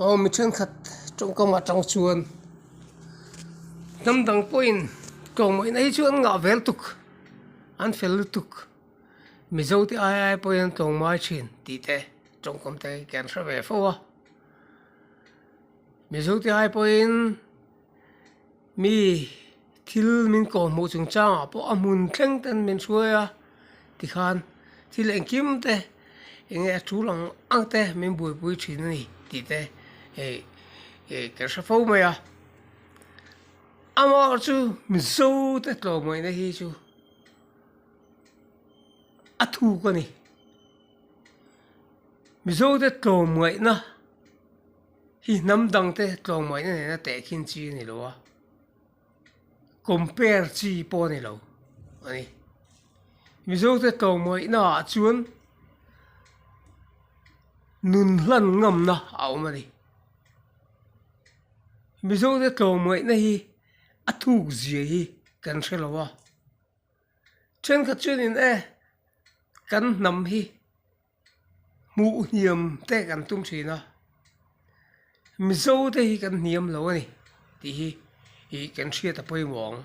Aw mi thenkhat tawngkam atang chuan hnamdang pawhin tlawmawina hi chu an ngah vel tuk an fel lutuk mizo te ai ai pawhin an tlawmai thin tih te tawngkam te hi kian hre ve fo a mizote ai pawhin-- mi thil min kawh hmuh chung changah pawh a hmun thleng te an min hruai a tikhan thil engkim te eng nge a thu ang ang te min buaipui thin a ni tih te hei hei ka hre fo mai a amaherawhchu chu mizo te tlawhmawina hi chu a thuk a ni mizote tlawhmuaihna. Hi hnam dangte tlawng mah ina nena teh khin chi a ni lo a, compare chi pawh a ni lo a ni. Mizote tlawng mawihna ah chuan nun hlan ngamna a awm a ni. Mizote tlawng mawihna hi a thuk zia hi kan hre lo a. Thenkhat chuan in e kan hnam hi, hmuh hniam te kan tum thin a mizo te hi kan hniam lo a ni tih hi ih kan hriat a pawimawh ang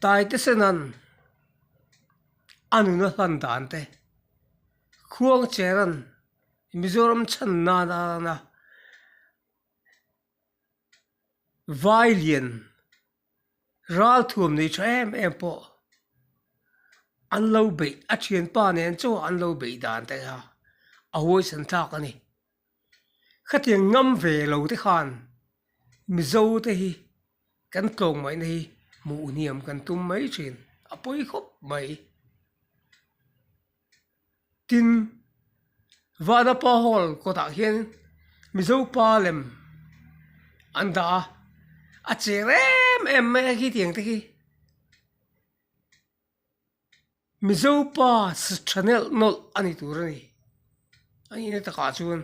Taite Senan a nuna hlan dan te Khuangcheran Mizoram chhan nan atana vailian. Ralthuam nei tha em em pawh an lo beih a thianpa nen chu an lo beih dan ta a, a huaisan thlak a ni. Khatiang ngam ve lo te khan Mizo te hi kan tlawng mai na hi hmuh hniam kan tum mai thin a pawi khawp mai. Tin, Vana Pa Hall kawtah hian Mizo pa lem an dah a, a chêr em em mai a khi tiang te hi. Mizo pa sitha nelh nawlh a ni tur a ni. A nih na takah chuan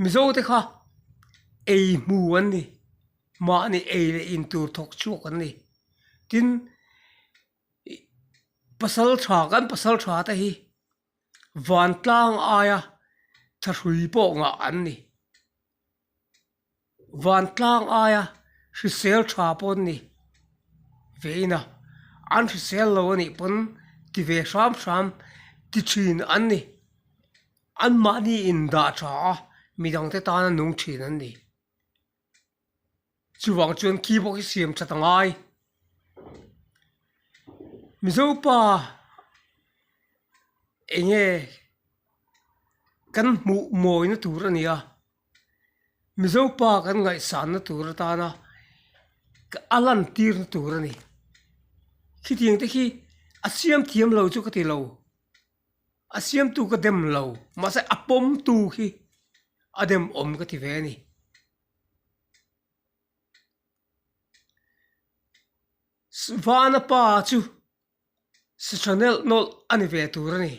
Mizo te kha ei hmu an ni, mahni ei leh in tur thawk chhuak an ni. Tin, pasal tha kan pasal tha te hi vantlang aia tha hrui pawh ngah an ni vantlang aia hrisel tha pawh an ni ve in a an hrisel lo a nih pawn ti ve hram hram ti thin an ni an mahni indah tha a midang te tan a nung thin an ni. Chuvang chuan khi pawh i siam that a ngai. Mizo pa eng nge kan hmuh mawina tur a nia, Mizo pa kan ngaihsanna tur atana a lan tirna tur a ni. Khitiang te khi a siam thiam lo chu ka ti lo. A siamtu ka dem lo, mahse a pawmtu khi a dem awm ka ti ve a ni. Vana pa chu sitha nelh nawlh a ni ve tur a ni.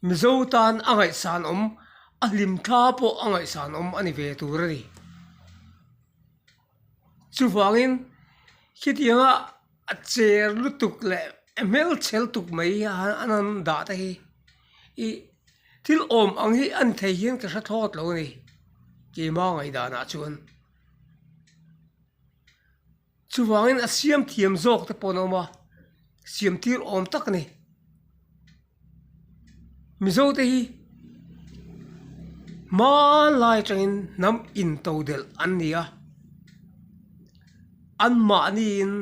Mizo tan a ngaihsanawm, a hlim thla pawh a ngaihsanawm a ni ve tur a ni. Chuvangin, khitianga a cher lutuk leh a hmelchhel tuk mai a han dah te hi i thil awm ang hi a ni thei hian ka hre thlawt lo a ni. Keima ngaihdanah chuan. Chuvangin a siam thiam zawk te pawh an awm a, siamtir awm tak a ni. Mizo te hi hmanlai atangin hnam into delh an ni a, anmahniin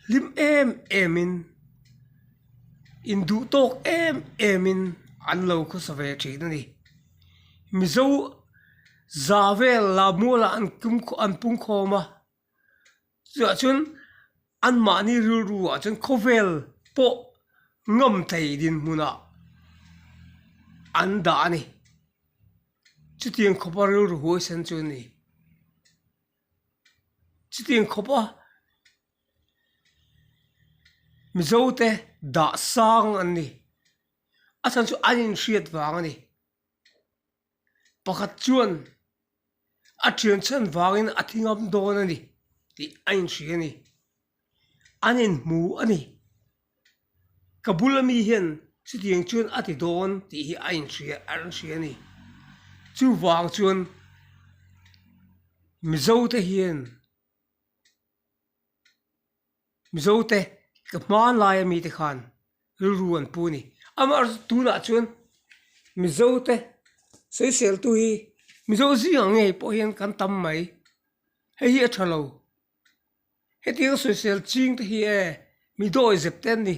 hlim em emin induhtawk em emin an lo khawsa ve thin a ni. Mizo za vel Lammuala an pungkhawm a. Chuah chuan anmahni rilru ah chuan khawvel pawh ngam thei dinhmun ah an dah a ni. Chutiang khawpa rilru huaisen chu a ni. Chutiang khawpa Mizo te dahsang an ni. A chhan chu an inhriat vang a ni. pakhat chuan a thianchhian vangin a thi ngam dawn a ni tih a inhria a ni an inhmu a ni ka bula mi hian chutiang chuan a ti dawn tih hi a inhria a inhria a ni chuvang chuan mizo te hian-- Mizo te, ka hmaan laia mite khan rilru an pu ni. Amah tunah chuan Mizo te seiseltu hi Mizo zing ang nge pawh hian kan tam mai. Hei hi a tha lo. Hetiang a sawisel ching te hi e mi dawi zep te an ni.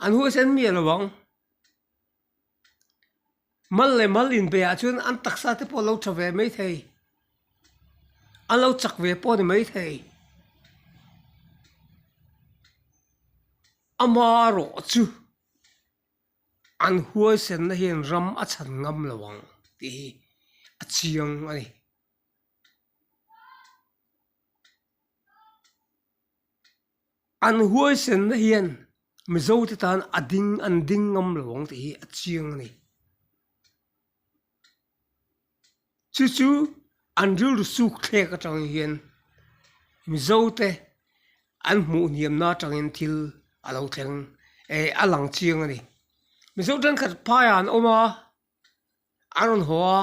An huaisan mi a lo ang. Mal leh mal inbeih ah chuan an taksa te pawh lo tha ve mai thei, an lo chak ve pawh a ni mai thei. A hma rawh chu an huaisen na hian ram a chhan ngam lo ang tih hi a chiang a ni. An huaisenna hian Mizote tan a ding an ding ngam lo ang tih hi a chiang a ni. Chu chu an rilru suk thlek atangin hian Mizote an hmuh hniamna atangin thil a lo thleng eh a lang chiang a ni. Mizo thenkhat phaiah an awm a, an rawn haw a,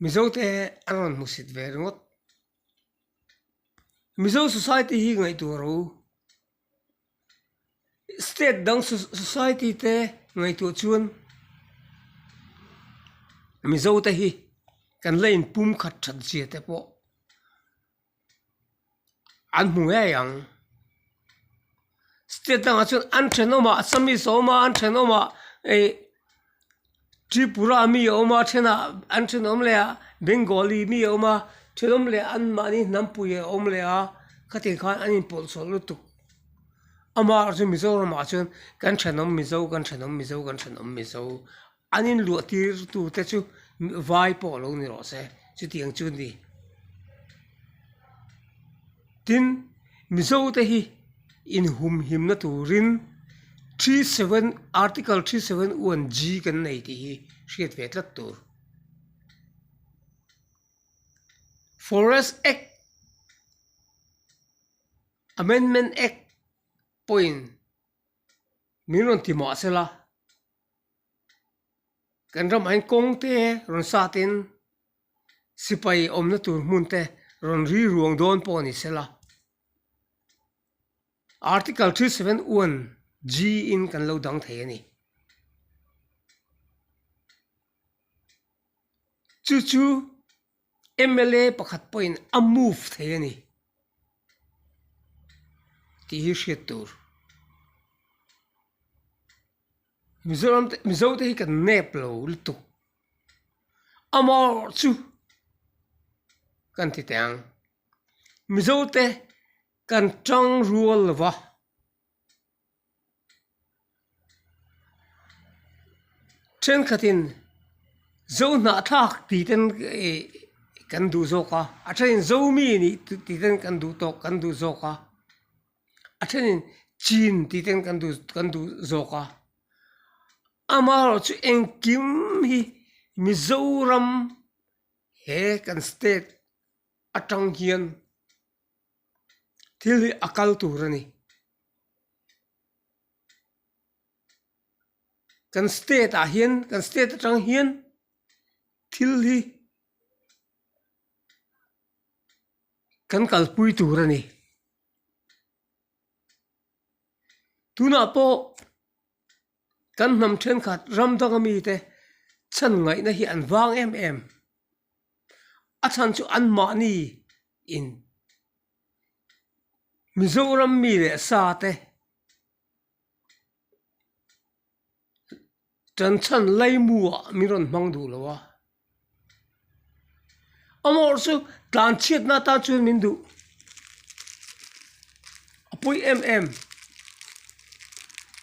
Mizote an rawn hmuhsit ve ringawt. Mizo society hi ngaihtuahro state dang society te ngaihtuah chuan Mizo te hi kan la in pumkhat that zia te pawh an hmu ngei ang. state dangah chuan an thenawm a assamese a awm a an thenawm a ih tripura mi a awm a a ṭhenah an thenawm leh a bengali mi a awm a thenawm leh an mahni hnampuia a awm leh a khatin khan an inpawlsawlh lutuk amaherawhchu mizoramah chuan kan thenawm mizo kan thenawm mizo kan thenawm mizo. An inluahtir tute chu vai pawh lo ni rawh se, chutiang chu ni. Tin, Mizo te hi inhumhimna turin Three Seven, Article Three Seven One G kan nei tih hi hriat ve tlat tur. Forest Act, Amendment Act pawhin min rawn ti mahse la, kan ramah hian kawngte rawn satin sipai awmna tur hmunte rawn rilruang dawn pawh a ni sel a article three seven one G in kan lo dang thei a ni chu chu. mla pakhat pawhin a move thei a ni tih hi hriat tur Mizoram te Mizo te hi kan nep lo lutuk amaw chu kan ti teh ang Mizote kan tangrual lova. Thenkhatin zo hnahthlak tih ten kan duh zawk a, a thenin zomi ni tih ten kan duh tawk kan duh zawk a, a thenin chin tih ten kan duh kan duh zawk a, amaherawhchu chu engkim hi Mizoram he kan state atang hian. thil hi a kal tur a ni kan state ah hian kan state atang hian thil hi kan kalpui tur a ni tunah pawh-- Kan hnam thenkhat ram danga mite chhan ngaihna hi an vang em em. A chhan chu anmahni in Mizoram mi leh sa te chanchan laimu ah min rawn hmang duh lo a. Amaw chu tlan chhiatna tan chuan min duh a pui em em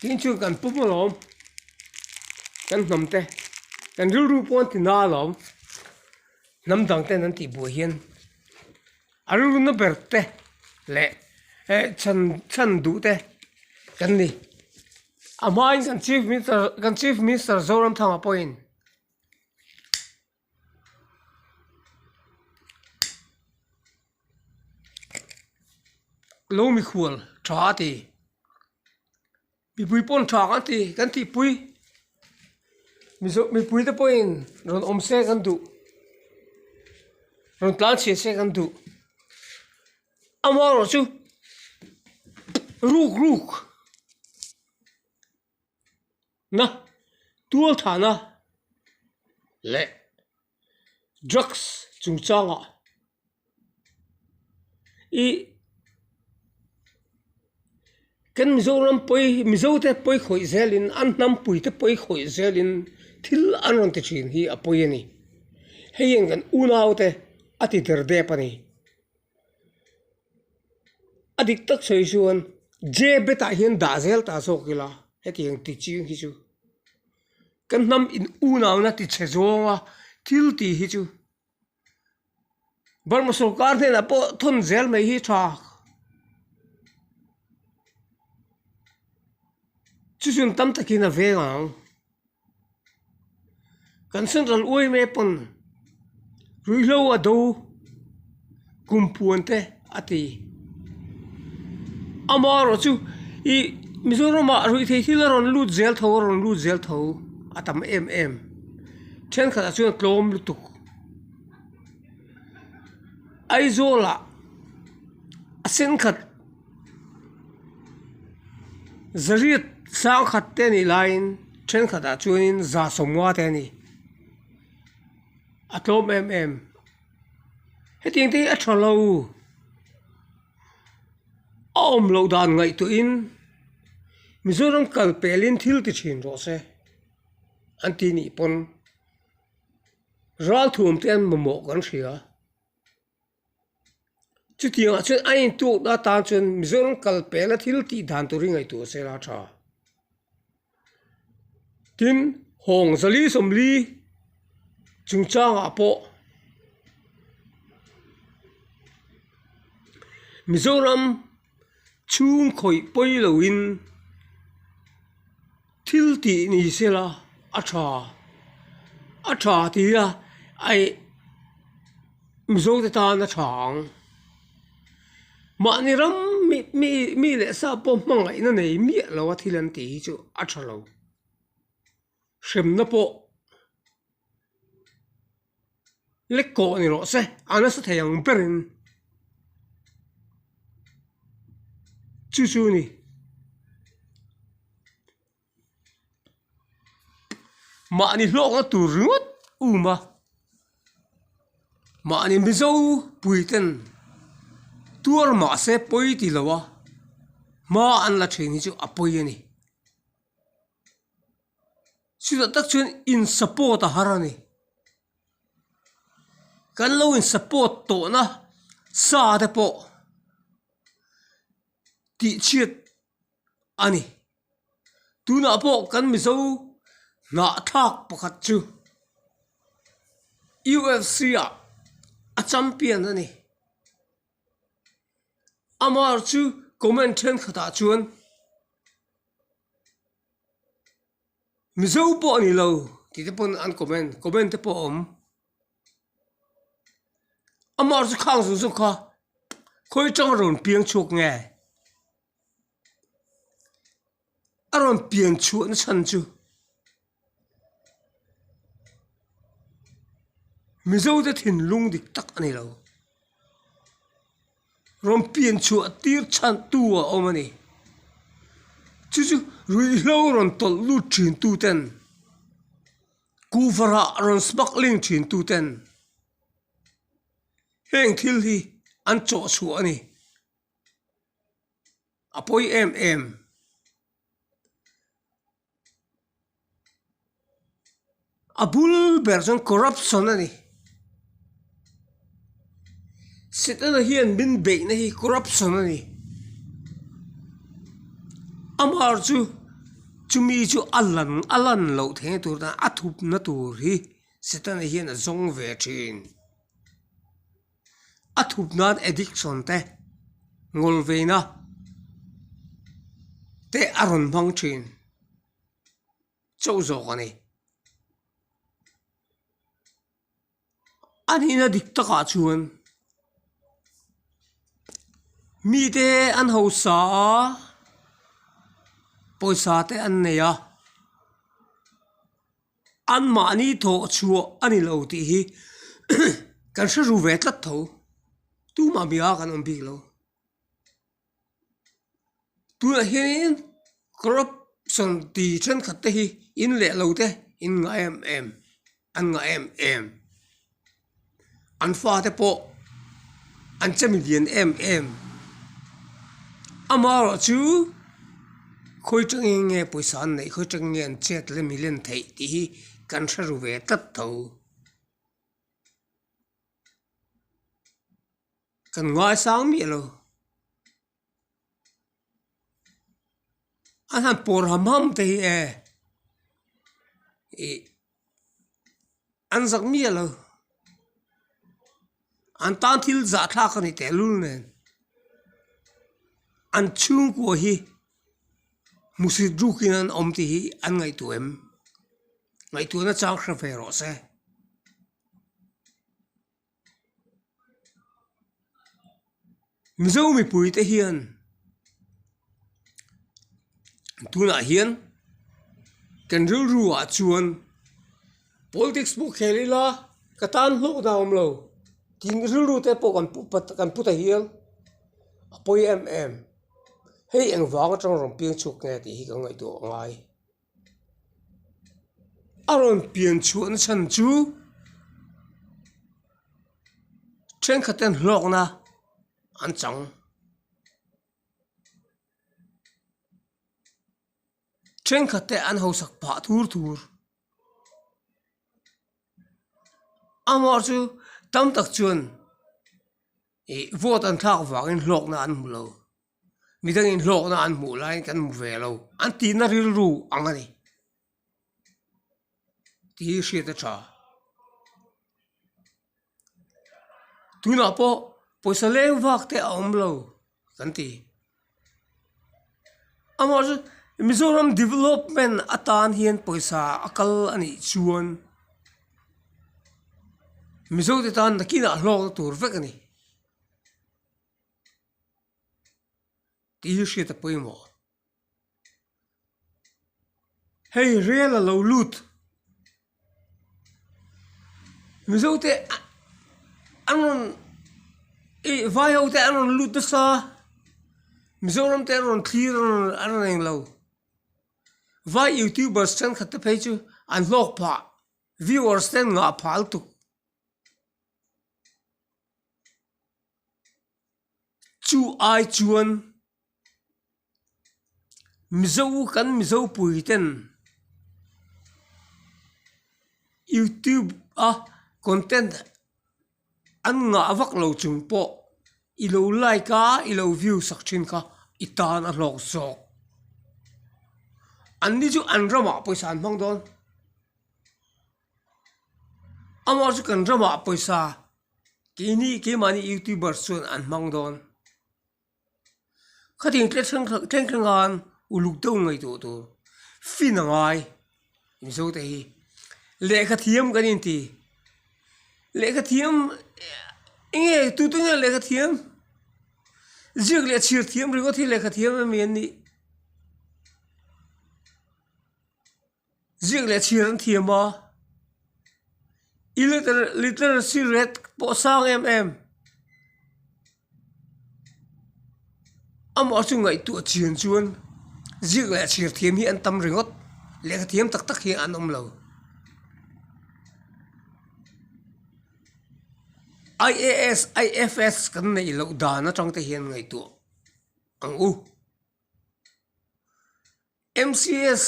tin chu kan pawm alawm kan hnam te kan rilru pawh an ti na alawm hnam dang ten an tih buai hian a rilru na ber te leh he chhan chhan duh te kan ni a hma in kan chief minister kan chief minister Zoramthanga pawhin-- lo mikhual tha a ti mipui pawn tha kan ti kan tih pui mizo mipui te pawhin rawn awm se kan duh rawn tlan chhiat se kan duh amaherawhchu ruk ruk. na tualthahna leh drugs chung changa i kan Mizoram pawi Mizote pawi khawih zelin an hnampuite pawi khawih zelin thil an rawn ti thin hi a pawi a ni hei hian kan unaute a ti der dep a ni. a dik tak sawi chuan J bet ah hian dah zel ta zawk ila heti ang teaching hi chu kan hnam in unau na tichhe zawng a thil ti hi chu Burma sawrkar hnena pawh thawn zel mai hi tha chu chun tam tak in a veng ang. Kan sanral uai mai apawn ruihhlo a do kum puan te a ti ama erawh chu ih Mizoram ah ruih theih thil a rawn lut zel tho a rawn lut zel tho a tam em em thenkhat ah chuan tlawm lutuk Aizawl ah a thenkhat-- zariat sangkhat te nih laiin thenkhat ah chuanin za sawmnga te a ni a tlawm em em heti ang te hi a tha lo a awm loh dan ngaihtuah in mizoram kal pel in thil ti thin rawh se an tih nih pawn ral thuam te an mamawh kan hria. Chutianga chuan a intuk na tan chuan Mizoram kal pehna thil tih dan tur hi ngaihtuah a sela tha. Tin, hawng zali zawmli chungchangah pawh Mizoram chhungkhawih pawi loin Thil tih ni se la, a tha. A tha ti a, ai Mizo te tan a tha ang. Mahni ram mi mi mi leh sa pawh hmangaihna nei miah lo a thil an tih hi chu a tha lo. Hremna pawh. Lekkawh a ni rawh se, a nasa thei ang ber in. Chu chu a ni. Mahni hlawkna tur ringawt u ma. Mahni mizo pui ten tuar mah se pawi ti lo a, hma an la thin hi chu a pawi a ni. chutah tak chuan in support a har a ni kan lo in support tawhna sa te pawh tihchhiat a ni tunah pawh kan mizo hnahthlak pakhat chu U F C ah a champion a ni. Amar chu comment thenkhatah chuan Mizo pawh a nilo tihte pawn an comment comment te pawh a awm Amar chu khang zawk zawk a khawi tang a rawn piang chhuak nge. a rawn pian chhuah na chhan chu mizo te thinlung dik tak a ni lo rawn pian chhuah tir chhan tu a awm a ni chu chu ruihhlo rawn tawlh lut thin tu ten kuh varah rawn smuggling thin tu ten heng thil hi an chawhchhuah a ni. a pawi em em a bul ber chuan corruption a ni sitna hian min beih na hi corruption a ni amar chu chumi chu a lan a lan loh thei tur a thut na tur hi sitna hian a zawng ve thin. a thut nan addiction te ngawl ve na te a rawn hmang thin chauh zawk a ni a nih na dik takah chuan mi te an ho sa a pawisa te an nei a. An mahni thaw a chhuah a ni lo tih hi kan hre ru ve tlat tho. Tu mah bia a kan awm bik lo. Tunah hianin corruption ti thenkhat te hi in leh lo te in ngah em em, an ngah em em. an fate pawh an che mi lian em em ama erawh chu khawi tang in nge pawisa an neih khawi tang in nge an chhiat leh mi len theih tih hi kan hre ru ve tlat tho kan ngaisang miah lo. an han pawr ham ham te hi e ih an zak miah lo an tan thil zah thlak a ni tehlul nen an chhungkua hi hmusit ruk in an awm tih hi an ngaihtuah em ngaihtuahna chang hre ve rawh se. Mizo mipuite hian tunah hian kan rilru ah chuan politics pawh khel ila ka tan hlauh dan a awm lo tin rilru te pawh kan pu pat kan pu ta hial a pawi em em hei engvang atang rawn peng chhuak nge tih hi ka ngaihtuah ngai. a rawn pian chhuah na chhan chu thenkhat ten hlawk na an chang thenkhat te an haho sak phah thur thur amaw chu tam tak chuan ih vote an thlak vang in hlawk na an hmu lo. mi dang in hlawk na an hmuh lai in kan hmu ve lo an tih na rilru ang a ni tih hi hriat a tha tunah pawh pawisa leng vak te a awm lo kan ti amaw chu mizoram development atan hian pawisa a kal a nih chuan mizote tan nakin ah hlawk na tur vek a ni. tih hi hriat a pawimawh hei rel a lo lut mizo te an rawn ih vai ho te an rawn lut nasa mizoram te an rawn thlir an rawn an rawn eng lo vai youtubers thenkhat te phei chu an hlawk phah viewers te an ngah phah lutuk. Chu ai chuan Mizo kan Mizo pui ten YouTube a content an ngah vak lo chung pawh i lo like a i lo view sak thin kha i tan a hlawk zawk an ni chu an ramah pawisa an hmang dawn. amaw chu kan drama pawisa keini keimahni youtubers chuan an hmang dawn khatiang tle thleng thleng thleng thleng a uluk deuh ngei duh tur fin a ngai mizo te hi lehkha thiam kan inti lehkha thiam eng nge tute nge lehkha thiam ziak leh chhir thiam ringawt hi lehkha thiam ami an nih. Ziak leh chhir an thiam a, illiteracy rate pawh sang em em, amaw chu ngaihtuah chian chuan ziak leh chhir thiam hi an tam ringawt, lehkha thiam tak tak hi an awm lo IAS, IFS kan neih loh dan atang te hian ngaihtuah ang u. MCS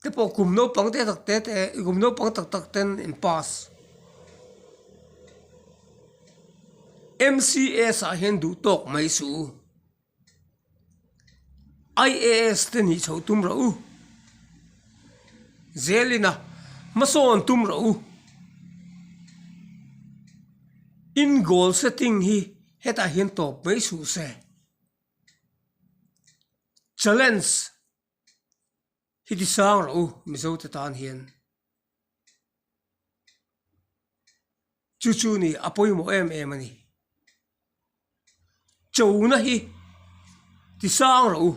te pawh kum naupang te tak te te kum naupang tak tak ten in pass MCS ah hian duh tawk mai su IAS te nih chhoh tum ro u zelina hmasawn tum ro u in goal setting hi hetah hian tawp mai su se. Challenge hi ti sang rawh u Mizo te tan hian. Chu chu ni a pawimawh em em a ni. Cho na hi ti sang rawh u.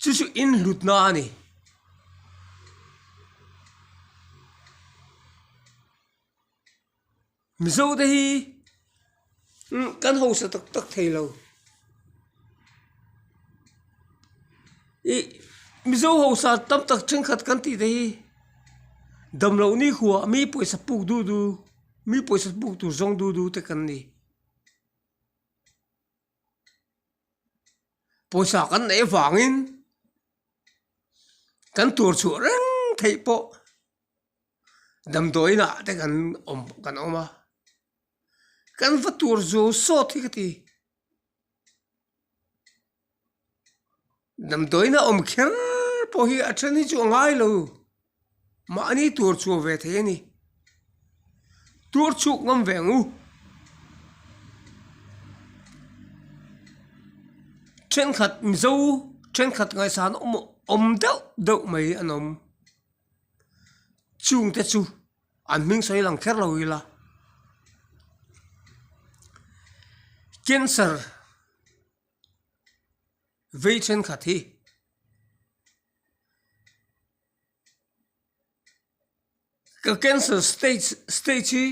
Chu chu in hlut na a ni. Mizo te hi kan hausa tak tak thei lo i Mizo hausa tam tak thenkhat kan tih te hi damlo nikhua mi pawisa puk duh duh mi pawisa puk tur zawng duh duh te kan ni pawisa kan neih avangin kan tur chhuah reng theih pawh. damdawiin ah te kan awm kan awm a kan va tur zu sawt hi ka ti damdawiin a awm kher pawh hi a then hi chu a ngai lo mahni tur chhuah ve thei a ni tur chhuak ngam ve ang u thenkhat mizo thenkhat ngaihsan awm deuh deuh mai an awm. chungte chu an hming sawi lang kher lo ila cancer vei thenkhat hi ka cancer stage stage hi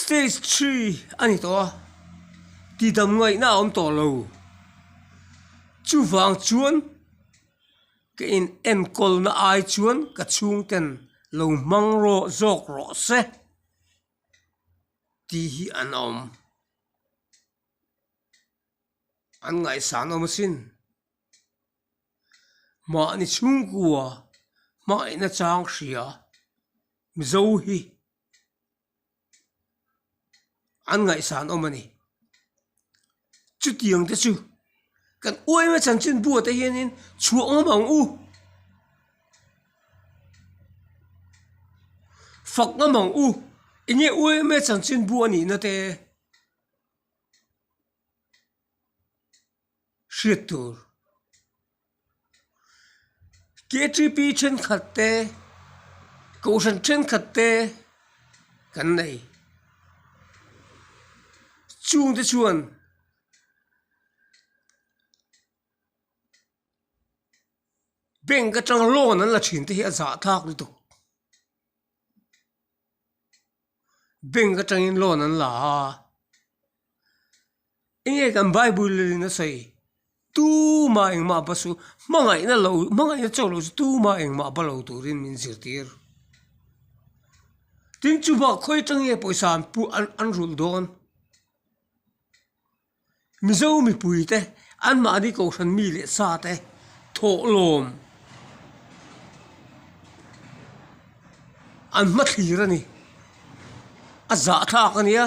stage three a ni tawh a tidam ngaihna a awm tawh lo chuvang chuan-- Ka in enkawlna ai chuan ka chhungten lo hmang rawh zawk rawh se tih hi an awm. An ngaihsan awm asin. Mahni chhungkua hmaina chang hria Mizo hi an ngaihsan awm a ni chutiang te chu kan uaih a chan chin buaite hianin chhuah awm ang u fak ngam ang u enge uaih ama chan chin bu a nihna te. hriat tur. KTP thenkhat te Kohhran thenkhat te kan nei, chung te chuan bank atang loan an la thin te hi a zahthlak lutuk. bank atangin loan an la a eng nge kan bible leh in a sawi tuma engmah pa saw hmangaihna lo hmangaihna chauh loh chu tuma engmah pa lo turin min zirtir tin chuvah khawi atange pawisa an pu an rulh dawn. Mizo mipui te an mahni kohhran mi leh sa te thawhlawm an hma thlir a ni. A zahthlak a nia.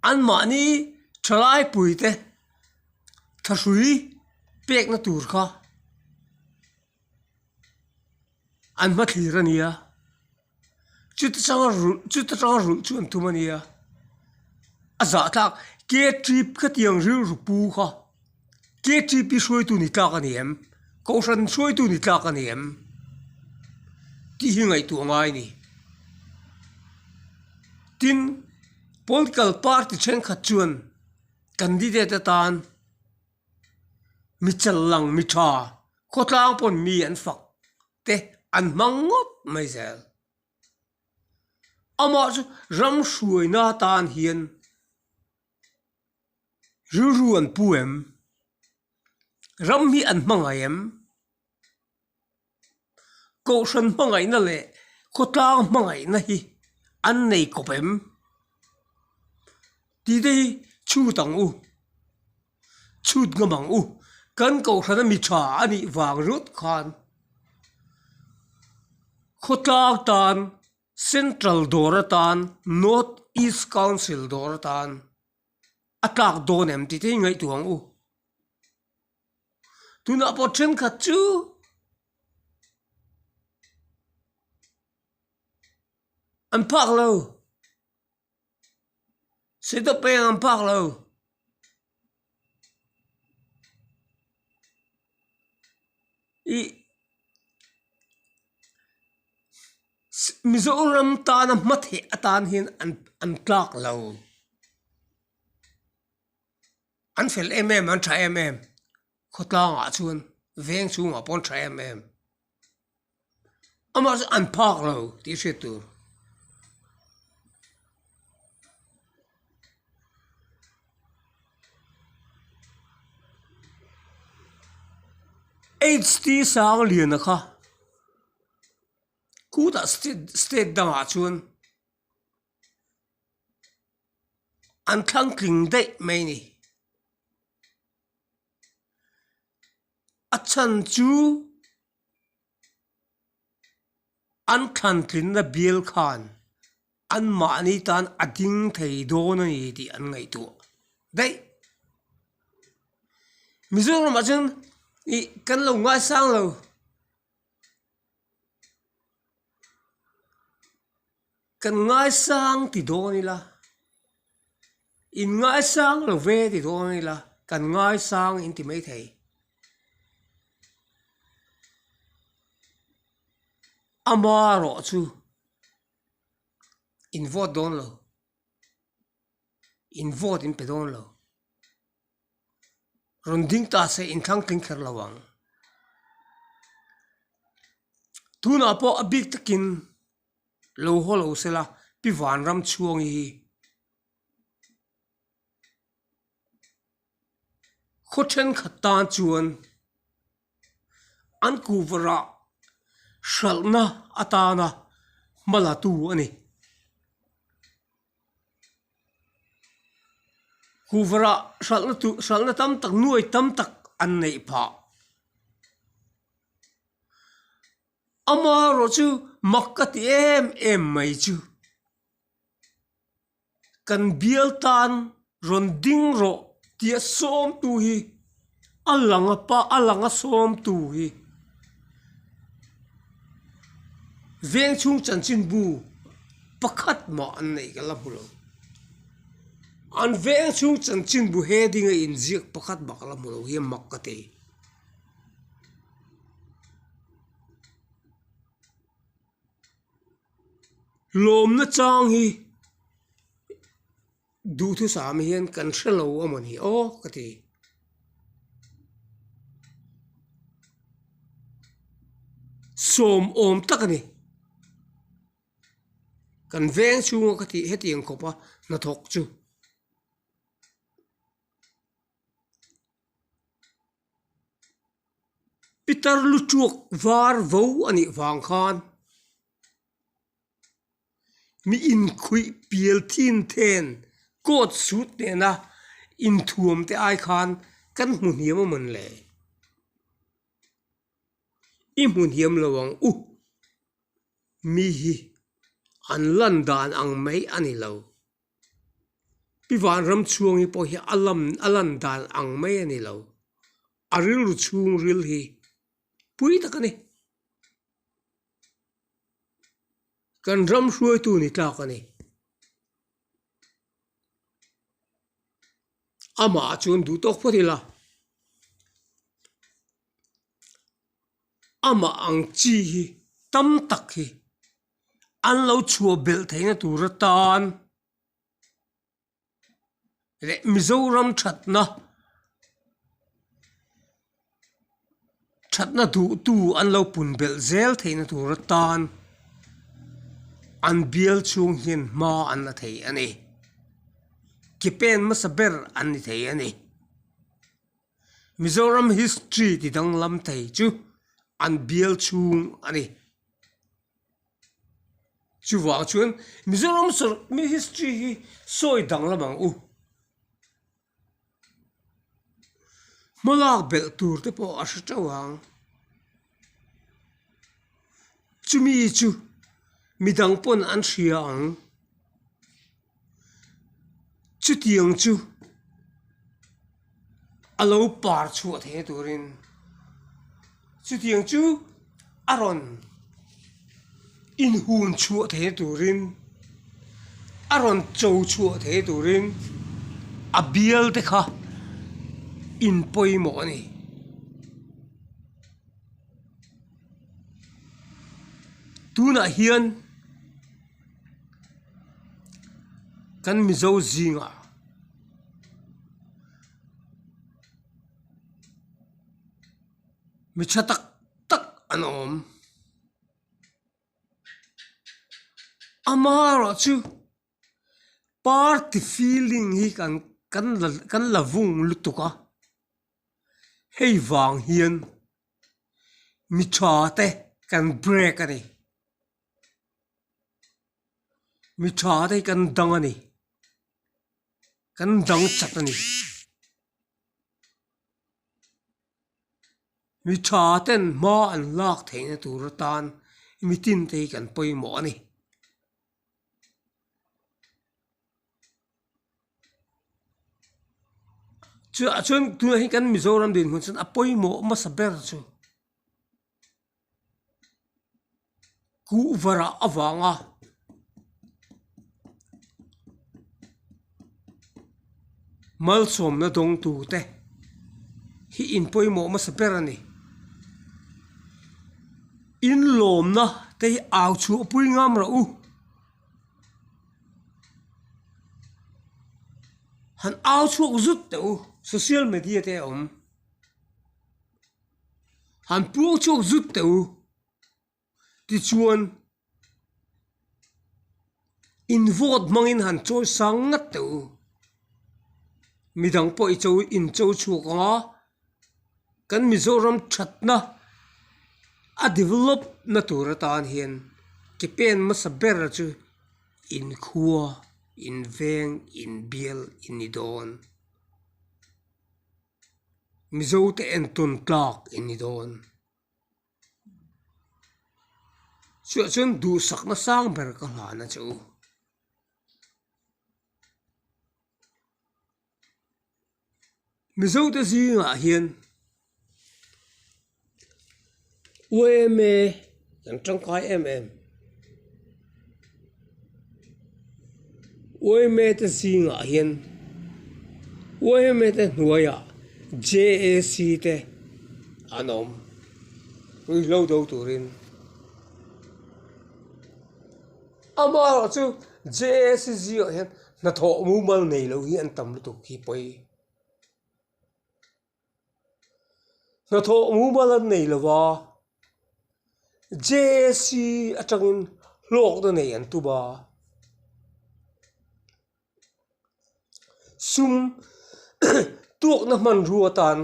An mahni thalaipui te thahrui pekna tur kha an hma thlir a nia. chuta chang a rulh chuta chang a rulh chu an tum a nia a zah tlak K three ka ti ang rilru pu kha K three P hruai tu ni tlak a ni em kohhran hruai tu ni tlak a ni em tih hi ngaihtuah ngai a ni tin political party thenkhat chuan candidate atan mi challang mi tha khawtlang pawn mi an fak. te an hmang ngawt mai zel. Amah chu ram hruaina tan hian rilru an pu em? Ram hi an hmangaih em? Kohhran hmangaihna leh khawtlang hmangaihna hi an nei kawp em? Tih te hi chhut ang u. chhut ngam ang u, kan kohhrana mi tha a nih vang rawt khan khawtlang tan Central dawr atan North East Council dawr atan a tlak dawn em tih te i ngaihtuah ang u. Tunah pawh thenkhat chu an phak lo. Setup pawh eng ang phak lo. I Mizoram tana hma theih atan hian an an tlak lo. An fel em em an tha em em khawtlangah chuan veng chhungah pawh an tha em em. amah zan an phak lo tih hriat tur HT Sangliana kha khutah state state dangah chuan an thlang tling daih mai a ni a chhan chu. An thlantlinna bial khan anmahni tan a ding thei dawn a ni tih an ngaihtuah daih. Mizoramah chuan ih kan lo ngaisang lo. Kan ngaisang ti dawn ila, in ngaisang lo ve ti dawn ila, kan ngaisang in ti mai thei. Ama rawh chu in vote dawn lo, in vote in pe dawn lo, rawn ding ta se in thlang tling kher lo ang. Tunah pawh a bik takin. Lo haw lo se la, pi vanram chhuang i hi. Khaw thenkhat tan chuan an kuh varah hralhna atana hma latu a ni. Kuh varah hralhna tu, hralhna tam tak, nuai tam tak an neih phah. Amaherawh chu mak ka ti em em mai chu. Kan bial tan rawn ding rawh tih a sawmtu hi a lang a pa a lang a sawmtu hi Vengchhung chanchinbu pakhat mah an neih ka la hmu lo. An Vengchhung chanchinbu he ding a inziak pakhat mah ka la hmu lo hi a mak ka ti. lawmna chang hi duhthusam hian kan hre lo a mawni aw ka ti. Sawmawm tak a ni. Kan veng chhunga ka tih heti ang khawpa hnathawk chu. Pitar lu chuk var vo a nih vang khan mi inkhuih pial thin then coat suit nena inthuam te ai khan kan hmu hniam a mawn leh i hmu hniam lo ang u mi hi an lan dan ang mai a ni lo. I vanram chhuang hi pawh hi a lam a lan dan ang mai a ni lo. A rilru chhung ril hi pui tak a ni. Kan ram hruaitu ni tlak a ni. Amah chuan duh tawk phawt ila, amah ang chi hi tam tak hi. an lo chhuah belh theihna tur atan leh Mizoram thatna thatna duhtu an lo pun belh zel theihna tur atan an bial chhung hian hma an la thei a ni ke pen hmasa ber an ni thei a ni. Mizoram history ti danglam thei chu an bial chhung a ni. Chuvang chuan Mizoram history hi sawi danglam ang u. Hmalak belh tur te pawh a hre teuh ang. chumi chu midang pawn an hria ang chutiang chu a lo par chhuah theih turin chutiang chu a rawn inhun chhuah theih turin a rawn cho chhuah theih turin a bialte kha inpawimawh a ni. tunah hian kan mizo zingah mi tha tak tak an awm amaherawh chu party feeling hi kan kan la vung lutuk a. hei vang hian mi tha te kan break a ni mi tha te kan dang a ni kan dang chat a ni mi tha ten hma an lak theihna tur atan mi tin te hi kan pawimawh a ni. a then tunah hi kan mizoram dinhmun chuan a pawimawh hmasa ber chu kuvarah a vang a. malsawmna dawng tur te hi in pawimawh hmasa ber a ni in lawmna te hi au chhuah pui ngam rawh u han au chhuak zut teh u social media te a awm han puang chhuak zut teh u. tichuan in vote hmangin han chawi sang ngat teh u mi dang pawh i chawi in chaw chhuak ang a kan mizoram thatna a develop na tur atan hian ke pen hmasa ber chu in khua in veng in bial i ni dawn mizo te entawn tlak i ni dawn. Chiah chuan duhsakna sang ber ka hlan a che u. Mizote zingah hian uaia em e an tangkai em em. Uaihmete zingah hian Uaihmete hnuaiah JAC te an awm tui hlo do turin amaherawh chu JAC zingah hian hnathawh mumal nei loh hi an tam lutuk hi pawi. Hnathawh mumal an nei lo va, JAC atangin hlawkna nei an tum a. Sum tuakna hmanrua tan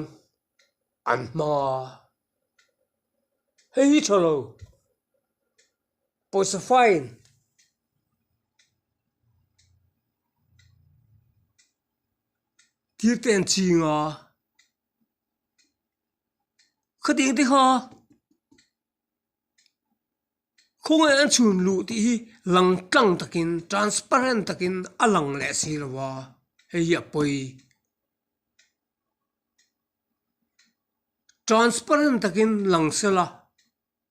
an hmang a, hei hi tha lo, pawisa fine Thirte an ching a. Khating te kha khawng an chhun luh tih hi lang tlang takin transparent takin a lang leh si lo va hei hi a pawi transparent takin lang sela.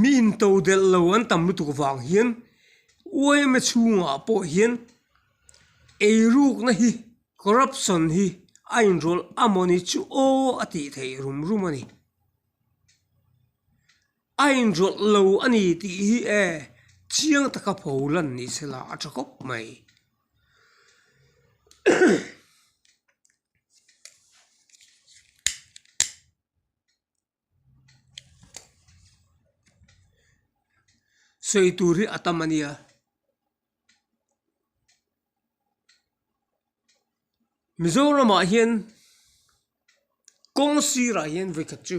mi into delh lo an tam lutuk vang hian uaina chhungah pawh hian ei rukna hi corruption hi a inrawlh a mawni chu aw a tih theih rum rum a ni a inrawlh lo a ni tih hi e chiang taka pho lan ni se la a tha khawp mai. sawi tur hi a tam a ni a. Mizoramah hian kawng sirah hian vawi khat chu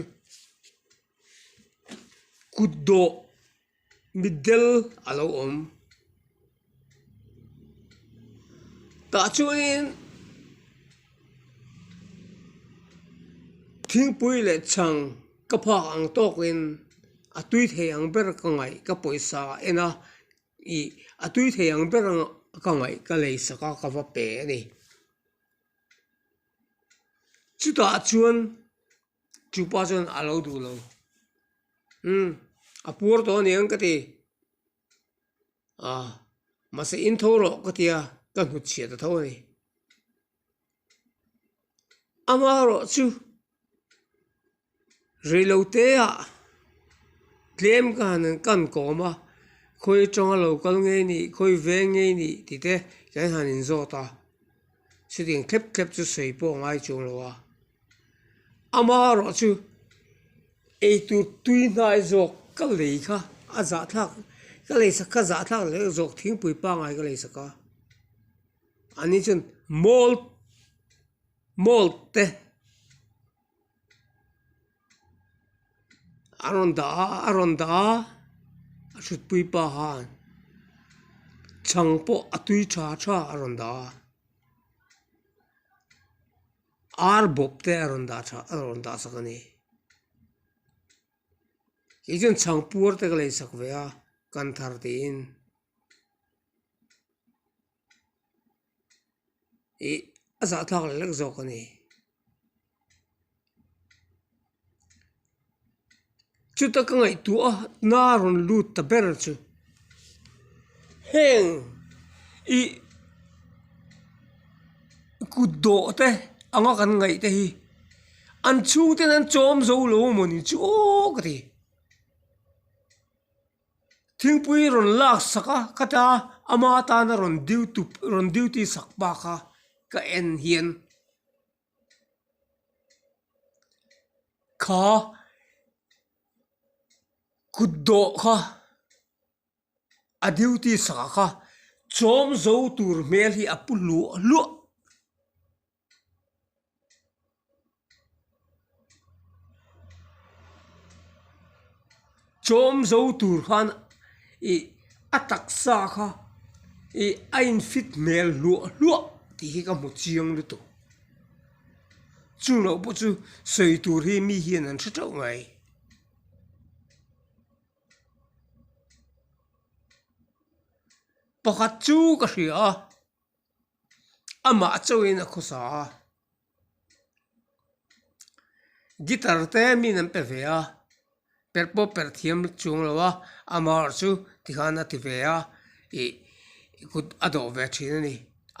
kut dawh-- mitdel a lo awm tah chuanin thingpui leh chhang ka phak ang tawkin a tui thei ang ber ka ngaih ka pawisa a en a ih a tui thei ang ber ka ngaih ka lei sak a ka va pe a ni chutah chuan. Chupa chuan a lo duh lo. Umm, a puar tawh a ni ang ka ti. Aah, mahse in tho rawh ka tia, ka hnut chhia ta tho a ni. A hma rawh chu, reilo teah tlem ka han ka han kawm a, khawi atanga lo kal ngei anih, khawi veng ngei anih tite kan han in zawt a. chutiang thlep thlep chu sawi pawh a ngai chung lo a, ama erawh chu eitur tui hnai zawk ka lei kha a zah thlak ka lei sak kha zah thlak leh zawk thingpui pangngai ka lei sak a, ani chuan mall mall te. a rawn dah a a rawn dah a a thutpui pa hian chhang pawh a tui tha tha a rawn dah a ar bawp te a rawn dah tha a rawn dah sak a ni kei chuan chhang puar te ka lei sak ve a kan thar tiin. ih a zahthlak lek lek zawk a ni chuta ka ngaihtuah a hna rawn lut ta ber chu heng ih kut dawh te anga kan ngaih te hi an chhungte an chawm zo lo mawni chu aw ka ti. thingpui rawn lak sak a ka ta ama tana rawn duty rawn duty sak bak a ka en hian kha kut dawh kha a duty sakah kha chawmzo tur hmel hi a pu luah luah. Chawm zo tur khan ih a taksa kha ih a in fit hmel hluah hluah tih hi ka hmu chiang lutuk chung loh pawh chu sawi tur hi mi hian an hre teuh mai. Pakhat chu ka hria. amah chauhin a khaw sa a guitar te min an pe ve a per pawh perh thiam chuang lo a amah erawh chu tikhan a ti ve a ih kut a dawh ve thin a ni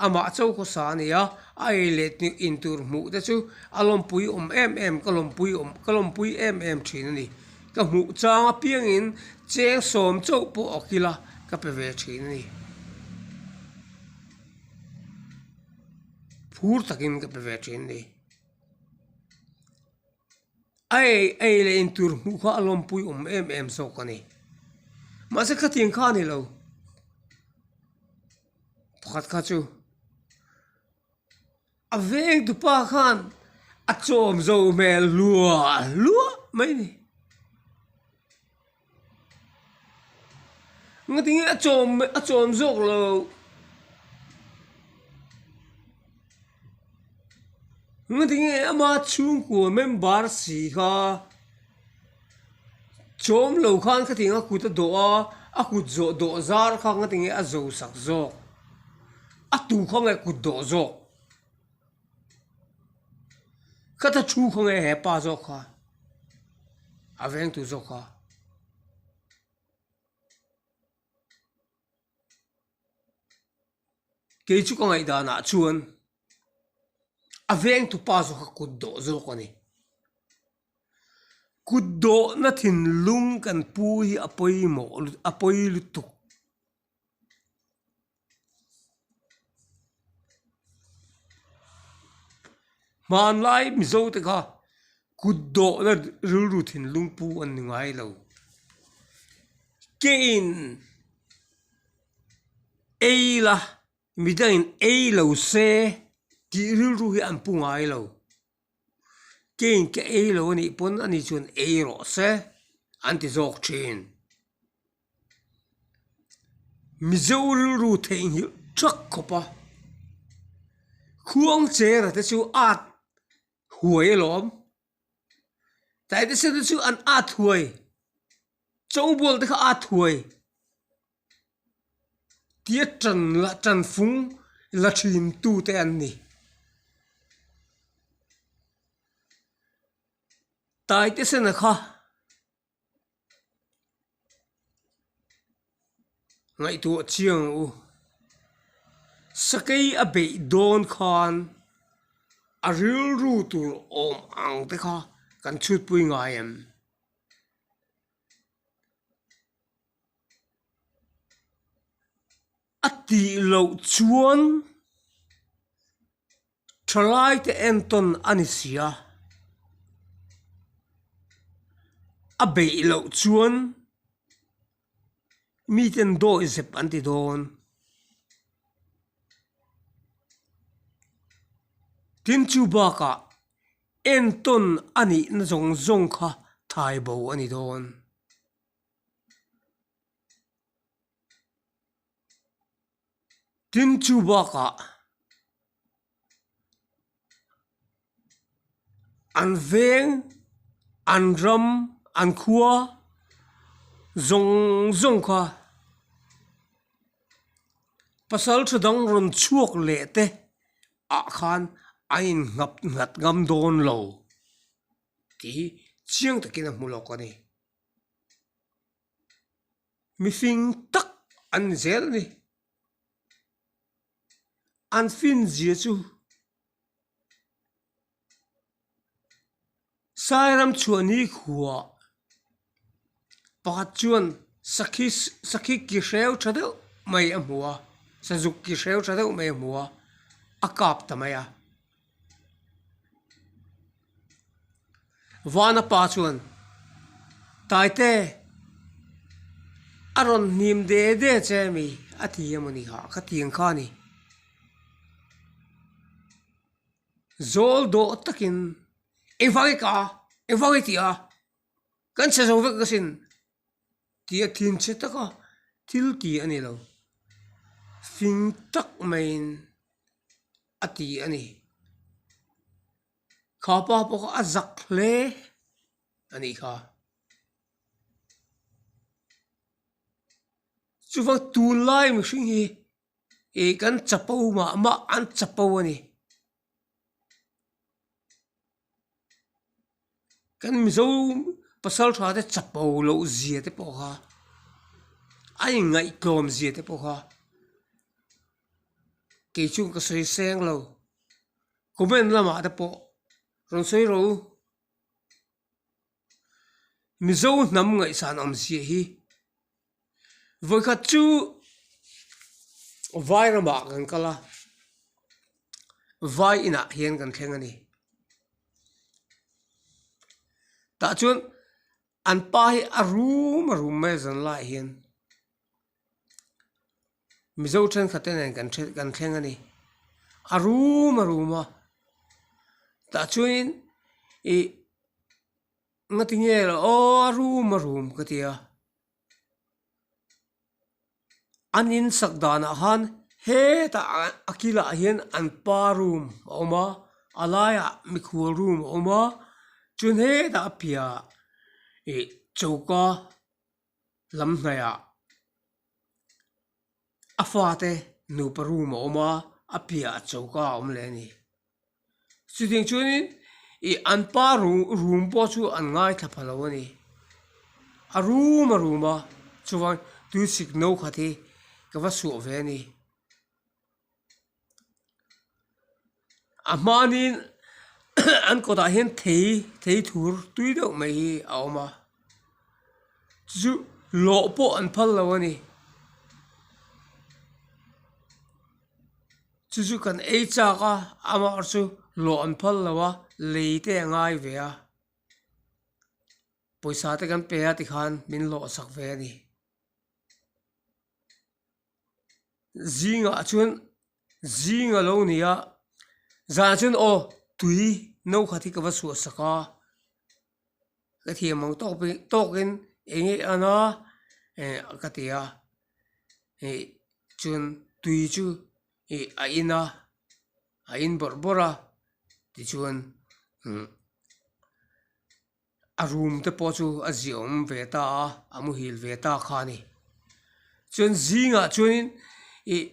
amah chau khaw sa a ni a a ei leh in tur hmuh te chu a lawmpui awm em em ka lawmpui awm ka lawmpui em em thin a ni. Ka hmuh chang apiangin cheng sawm chauh pawh a kil a, ka pe ve thin a ni. Phur takin ka pe ve thin a ni. A ei ei leh in tur hmuh kha a lawmpui awm em em zawk a ni. Mahse khatiang kha a ni lo, pakhat kha chu. A veng tupa khan a chawm zo hmel luah luah mai ni. Nga tinge a chawm a chawm zawk lo. Nga tinge ama chhungkua member si kha. Chawm lo khan ka tiang a kut a dawh a, a kut zawh dawh zar kha ka ti nge a zo sak zawk, a tu kha nge kut dawh zawk, ka ta thu kha nge he pa zawk kha a veng tu zawk kha. Kei chu ka ngaihdan ah chuan a vengtu pa zawk kha kut dawh zawk a ni. Kutdawhna thinlung kan pu hi a pawimawh a pawi lutuk. Hmanlai Mizo te kha kutdawhna rilru thinlung pu an ni ngai lo. Kei in ei la, midang in ei lo se tih rilru hi an pu ngai lo. Keng ka ei lo a nih pawn a ni chuan ei rawh se an ti zawk thin. Mizo rilru theihnghilh ṭhak khawp a, khuang chera te chu ât huai a lawm. Taitisa te chu an ât huai, chawngbualte kha ât huai. tia tan la tan fung la thin tu te an ni tai te sana kha ngaihtuah chiang u sakei a beih dawn khan a rilru tur awm ang te kha kan chhutpui ngai em. a tih loh chuan tha lai te en tawn a ni si a, a beih loh chuan mi ten dawi zep an ti dawn tin chu bakah en tawn a nihna zawng zawng kha thai bo a ni dawn. Tin, chu bakah an veng, an ram, an khua zawng zawng kha pasal tha dang rawn chhuak leh te ah khan a in ngap nghat ngam dawn lo tih hi chiang takin a hmu lawk a ni. mihring tak an ni zel a ni an field zia chu sai ram chhuah ni khua pakhat chuan sakhi sakhi ki hreu tha deuh mai a hmu a sazuk ki hreu tha deuh mai a hmu a a kap ta mai a. Vana pa chuan, Taite, a rawn hnim de de che a mi, a ti em a ni ha, ka ti ang kha a ni. Zawl dawh takin, Engvang i ka a, engvang i ti a, kan chhe zo vek ka sin. Tih a thin che tak a, thil ti a ni lo. Fing tak maiin a ti a ni. Kha pa pawh a zak hle a nih kha. Chuva tunlai mihring hi ih kan chapo mah mah an chapo a ni kan mizo pasal tha te chapo loh zia te pawh kha a inngaih tlawm zia te pawh kha kei chung ka sawi seng lo comment lamah te pawh rawn sawi ro. Mizo hnam ngaihsan awmzia hi vawikhat chu vai ramah kan kal a, vai inah hian kan thleng a ni. Tah chuan an pa hi a rum a rum mai a zan laiah hian. Mizo thenkhat nen kan then kan thleng a ni a rum a rum a tah chuanin ih nightingale aw a rum a rum ka ti a an in sak danah khan hetah ah a kilah hian an pa room a awm a a laiah mikhua room a awm a chuan hetah a piahah ih choka-- Lam hnaiah a fate nupa room a awm a, a piah a choka a awm leh a ni. Chutih chuanin ih an pa room pawh chu an ngaithla pha lo a ni. A rum a rum a, chuvang tuisik no khat hi ka va suah ve a ni. a hmanin an kawtah hian thei thei thur tui deuh mai hi a awm a chu lawh pawh an phal lo a ni chu chu kan ei chak a amaherawhchu chu lawh an phal lo a lei te a ngai ve a pawisa te kan pe a tikhan min lawh a sak ve a ni. zingah chuan zing a lo ni a zan ah chuan aw tui no khat hi ka va chhuah sak a ka thiam ang tawk pawh tawk in eng nge an a eh ka ti a ih chuan tui chu ih a in a a in bawrh bawrh a tichuan imm-- A room te pawh chu a ziah awm ve ta a, a muhil ve ta kha a ni. Chuan zingah chuanin ih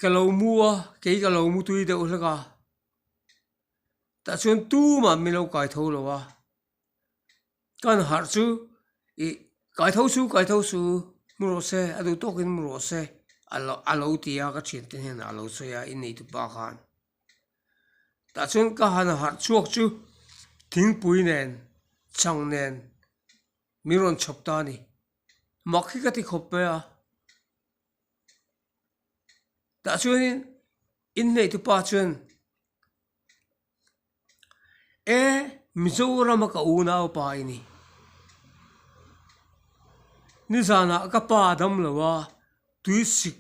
ka lo mu a, kei ka lo mu tui deuh hlek a, tah chuan tumah min lo kai tho lo a, kan harh chu ih kai tho su kai tho su, mu rawh se, a duh tawkin mu rawh se, a lo a lo ti a ka thiante hnenah a lo sawi a, i neihtu pa khan. Tah chuan ka han harh chhuak chu thingpui nen chhang nen min rawn chhawp ta a ni. Mak hi ka ti khawp mai a, tah chuanin in hnaihte pa chuan Ee Mizoram a ka un a upa i ni? Nizanah ka pa a dam lo a, tui sik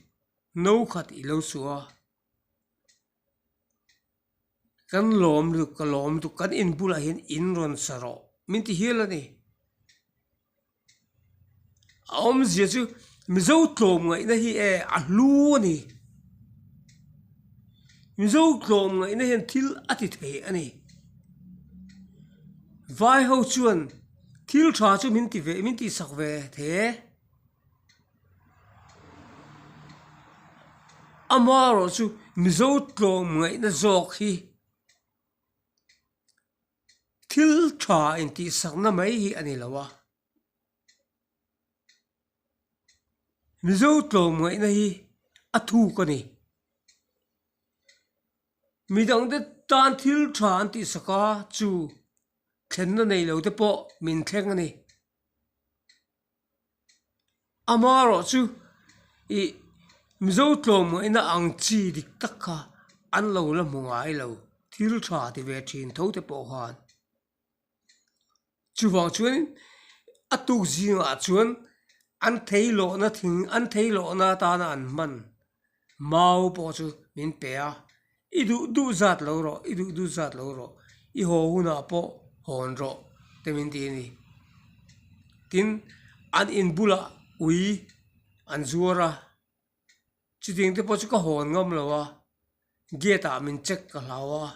no khat i lo suh a. Kan lawm lutuk ka lawm lutuk kan in bulah hian in rawn sa rawh min ti hial a ni a awmzia chu Mizo tlawm ngaihna hi e a hlu a ni Mizo tlawm ngaihna hian thil a ti thei a ni vai ho chuan thil tha chu min ti ve min tihsak ve thei e. amaherawhchu chu mizo tlawm ngaihna zawk hi thil tha intihsakna mai hi a ni lo a mizo tlawm ngaihna hi a thuk a ni midang te tan thil tha an tih sak a chu thlenna nei lo te pawh min thleng a ni. amaherawhchu chu ih mizo tlawmuina ang chi dik tak kha an lo la hmu ngai lo thil tha ti ve thin tho te pawh khan chuvang chuan a tukzingah chuan an thei lawhna thing an thei lawhna atana an hman. mau pawh chu min pe a i duh duh zat lo rawh i duh duh zat lo rawh i haw hunah pawh hawn rawh te min ti a ni tin an in bulah ui an zuar a chutting te pawh chu ka hawn ngam lo a gate ah min check ka hlau a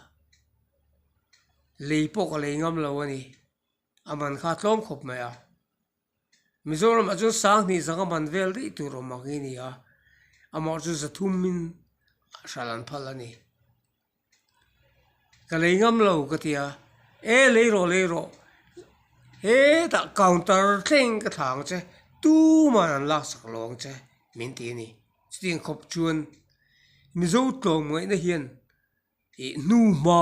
lei pawh ka lei ngam lo a ni. a man kha a tlawm khawp mai a Mizoram ah chuan sanghnih zanga man vel rih tur awm ang hi a ni a amah chu za thum in hralh an phal a ni ka lei ngam lo ka ti a e lei rawh lei rawh hetah counter thleng ka thla ang che tuman an lak sak lo ang che min ti a ni chutih ang khawp chuan Mizo tlawmngaihna hian ih hnuma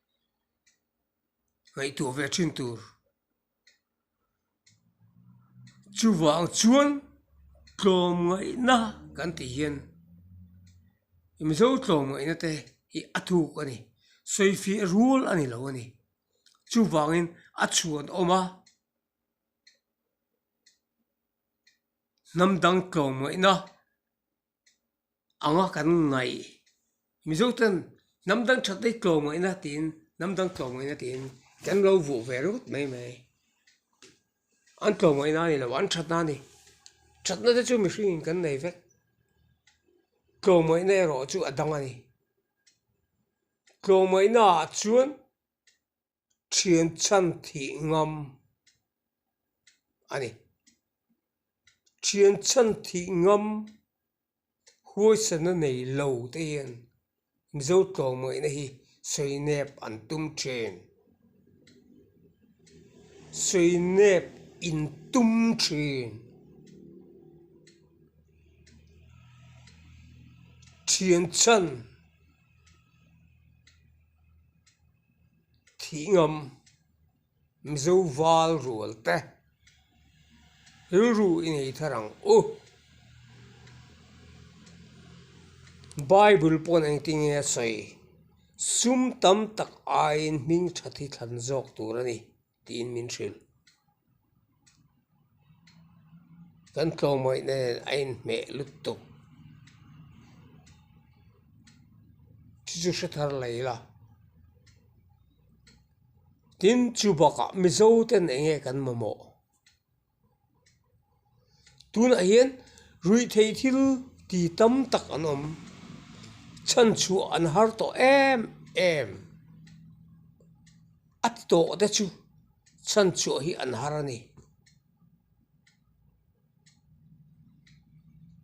ngaihtuah ve thin tur chuvang chuan tlawm ngaihna kan tih hian mizo tlawm ngaihna te hi a thuk a ni sawi fiah rual a ni lo a ni chuvangin a chhuan awm a hnam dang tlawm ngaihna. anga kan ngaih Mizo ten hnam dang that hi tlawm ngaihna tiin hnam dang tlawm ngaihna tiin kan lo vuah ve ringawt mai mai an tlawm ngaihna a ni lo an that na a ni thatna te chu mihringin kan nei vek tlawm ngaihna erawh chu a dang a ni tlawm ngaihna ah chuan-- thianchhan thih ngam a ni. Thianchhan thih ngam huaisana nei lo te hian Mizo tlawmawina hi sawi nep an tum thin. Sawi nep in tum thin. Thianchhan. thih ngam mizo val rual te rilru i nei thar ang u bible pawn engtin nge a sawi sum tam tak aiin hming that hi thlan zawk tur a ni. tiin min hrilh. Kan tlawmawina nen a inhmeh lutuk. Chu chu hre thar la ila. Tin chu bakah Mizo ten enge kan mamawh? tunah hian ruihtheih thil tih tam tak an awm chhan chhuah an har tawh em em a ti tawh te chu chhan chhuah hi an har a ni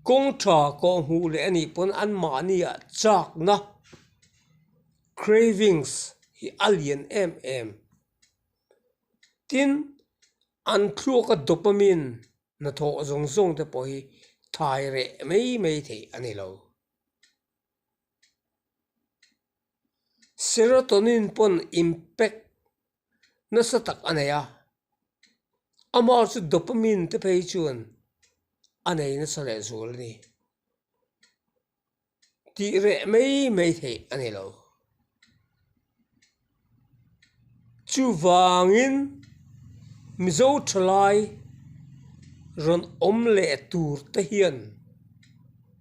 kawngṭha kawng hmuh leh a nih pawn an mahnia châkna cravings hi a lian em em tin. An thluak a dopamine hnathawh zawng zawng te pawh hi thlai reh mai mai theih a ni lo. Serotonin pawn impact nasa tak a nei a, amah chu dopamine te phei chuan a nei nasa leh zual a ni. tih reh mai mai theih a ni lo. Chuvangin Mizo thalai rawn awm leh tur te hian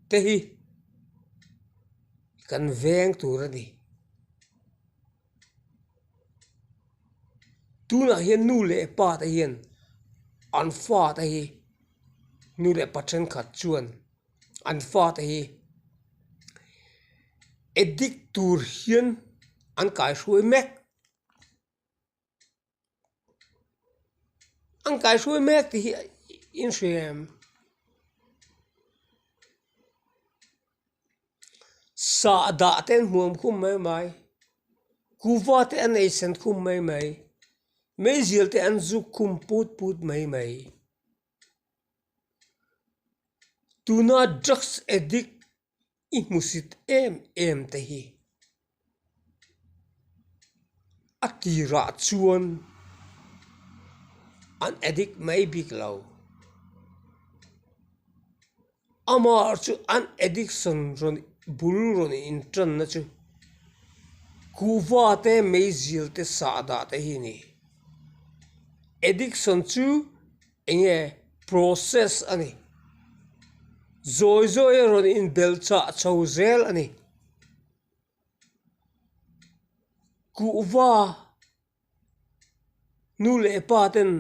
te hi kan veng tur a ni. Tunah hian nu leh pa te hian an fate hi nu leh pa thenkhat chuan-- an fate hi addict tur hian an kaihruai mek an kaihruai mek tih hi inhriam sah dah te an hmuam khum mai mai kuhva te an ei sen khum mai mai meizel te an zuk khum put put mai mai. tuna drugs addict i hmusit em em te hi a tirah chuan an addict mai bik lo. Amah chu an addiction rawn bul rawn inṭanna chu kuhvate meizilte sahdahte hi a ni. Addiction chu eng nge process a ni. Zawi zawia rawn inbel chah chho zel a ni. Kuhva. Nu leh pa ten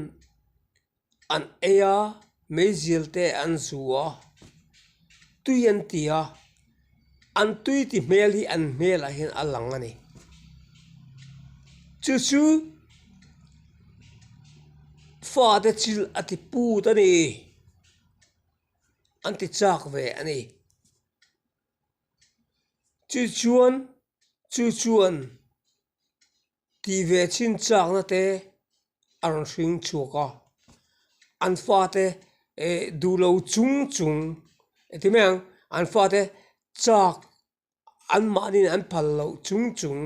an ei a, meizial te an zu a, tui an ti a, an tui ti hmel hi an hmel ah hian a lang a ni. Chu chu fa te chil a ti put a ni, an ti chak ve a ni. Chu chuan chu chuan. Tih ve chin châkna te a rawn hring chhuak a, an fate eh duhlo chung chung eh ti mai ang an fate châk an mahniin an phal loh chung chung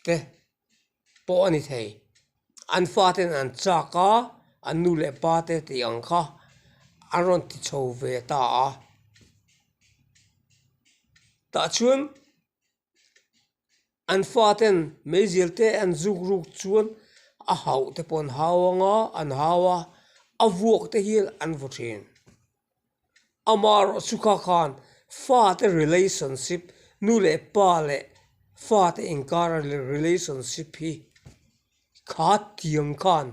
te pawh a ni thei, an fate'n an châk a, an nu leh pa te tih ang kha an rawn ti chho ve ta a, tah chuan an fate'n meizir te an zuk ruk chuan a hauh te pawh an hau ang a an hau a a vuak te hian an vawh thin ama erawh chu kha khan fate relationship nu leh pa leh fate inkara relationship hi kha tiang khan.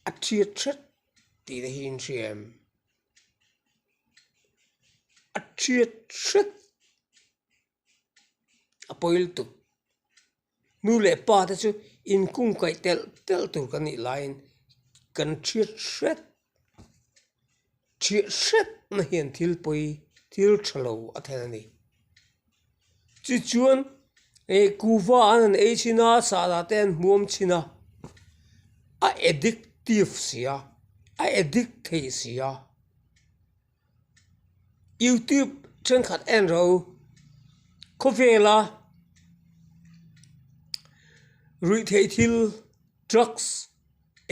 a chhiat chhet tih na hi in hria em? A chhiat chhet a pawi lutuk nu leh pa te chu in kungkaih telh telh tur kan nih laiin kan chhiat chhet. ṭhiah hrep na hian thil pawi thil ṭha lo a thlen a ni chu chuan ih kuhva an han ei chhin a sala te an huam chhin a a addictive sia a addict theih sia. youtube thenkhat en ro khawvela ruih theih thil drugs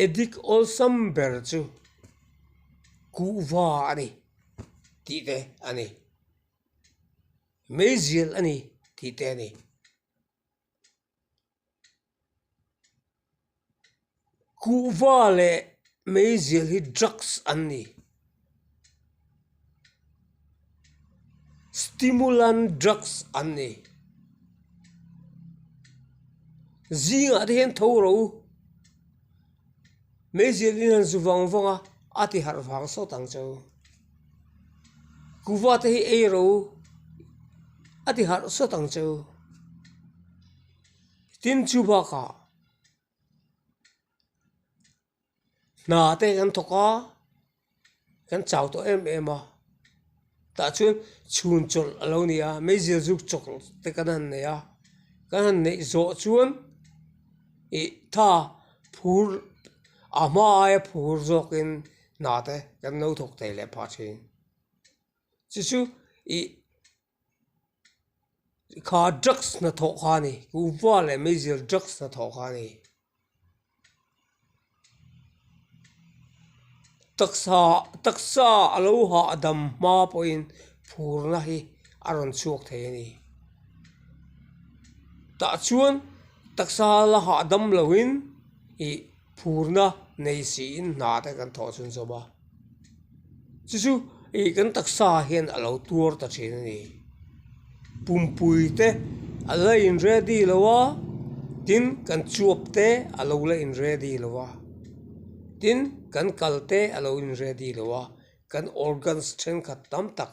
addict awlsam ber chu kuhva a ni tih te a ni meizel a ni tih te a ni. Kuhva leh meizel hi drugs an ni. Stimulant drugs an ni. Zingah te hian tho ro Meizir in han zu vang vang a, a ti harh vang sawt ang cho. Kuva te hi ei ro a ti harh sawt ang cho. Tin chu bakah hna te kan thawk a, kan chau tawh em em a tah chuan chhun chawlh a lo ni a meizia zuk chawlh te kan han nei a kan han neih zawh chuan ih tha phur a hma aia phur zawk in hna te kan lo thawk thei leh pah thin chu chu ih-- kha drugs hnathawh kha a ni upa leh miser drugs hnathawh kha a ni taksa taksa a lo hahdam hma pawhin phurna hi a rawn chhuak theih a ni tah chuan taksa la hahdam loin ih phurna nei si in hna te kan thawh chhunchawm a. Chu chu ih kan taksa hian a lo tuar ta thin a ni. Pumpui te a la in ready lo a, tin kan chuap te a lo la in ready lo a, tin kan kal te a lo in ready lo a, kan organs thenkhat tam tak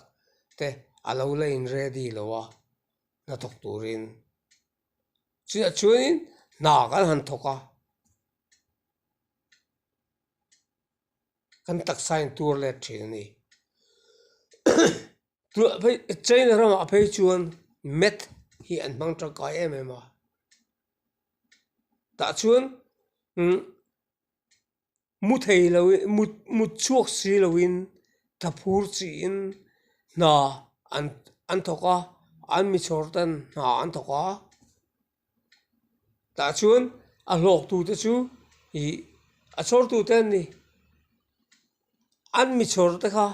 te a lo la in ready lo a hnathawk turin. Chiah chuan in hna kan han thawk a. kan taksa in tur let thin a ni tuah phei china ram ah phei chuan math hi an hmang tangkai em em a tah chuan imm mu thei lo in mu mu chhuak si lo in tha phur chi in hna an an thawk a an mi chawr ten hna an thawk a. tah chuan a hlawk tu te chu ih a chhawr tu te an ni an mi chhawr te kha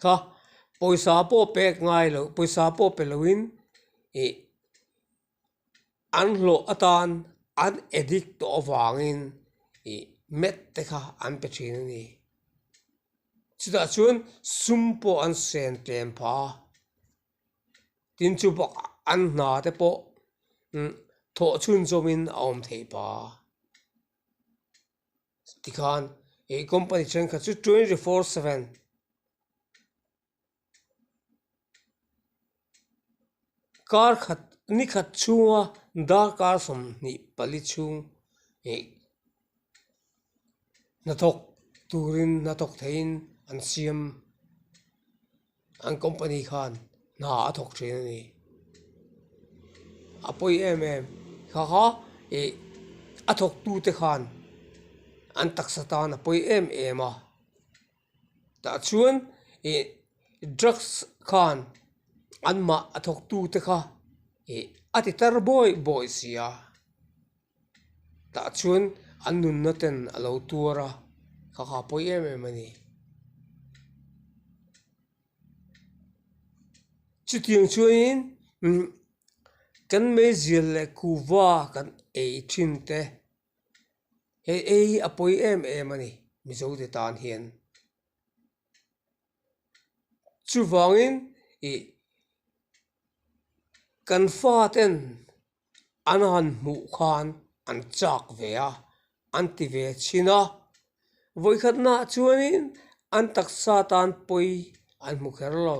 kha pawisa pawh pek ngai lo pawisa pawh pe lo in ih-- an hlawh atan an edit tawh avangin ih met te kha an pe thin a ni, chutah chuan sum pawh an sen tlem pha a, tin chu bakah an hna te pawh imm thawh chhun zawmin a awm thei pha a, tikhan ih company thenkhat chu twenty four seven. kar khat ni khat chhunga darkar sawmhnih pali chhung ih hnathawk turin hnathawk theihin an siam an company khan hna a thawk thin a ni a pawi em em thakha ih a thawk tute khan an taksa tan a pawi em em a. tah chuan ih drugs khan an mah a thawk tu te kha ih a ti tar bawi bawi si a tah chuan an nun na ten a lo tuar a kha kha pawih em em a ni chuti ang chuan in umm kan mei zir leh kuhva kan ei thin te. Hei ei a pawi em em a ni Mizote tan hian. Chuvangin ih kan fa ten an han hmuh khan an chak ve a, an ti ve chin a. Vawikhatnaah chuanin an taksa tan pawi an hmu kher lo.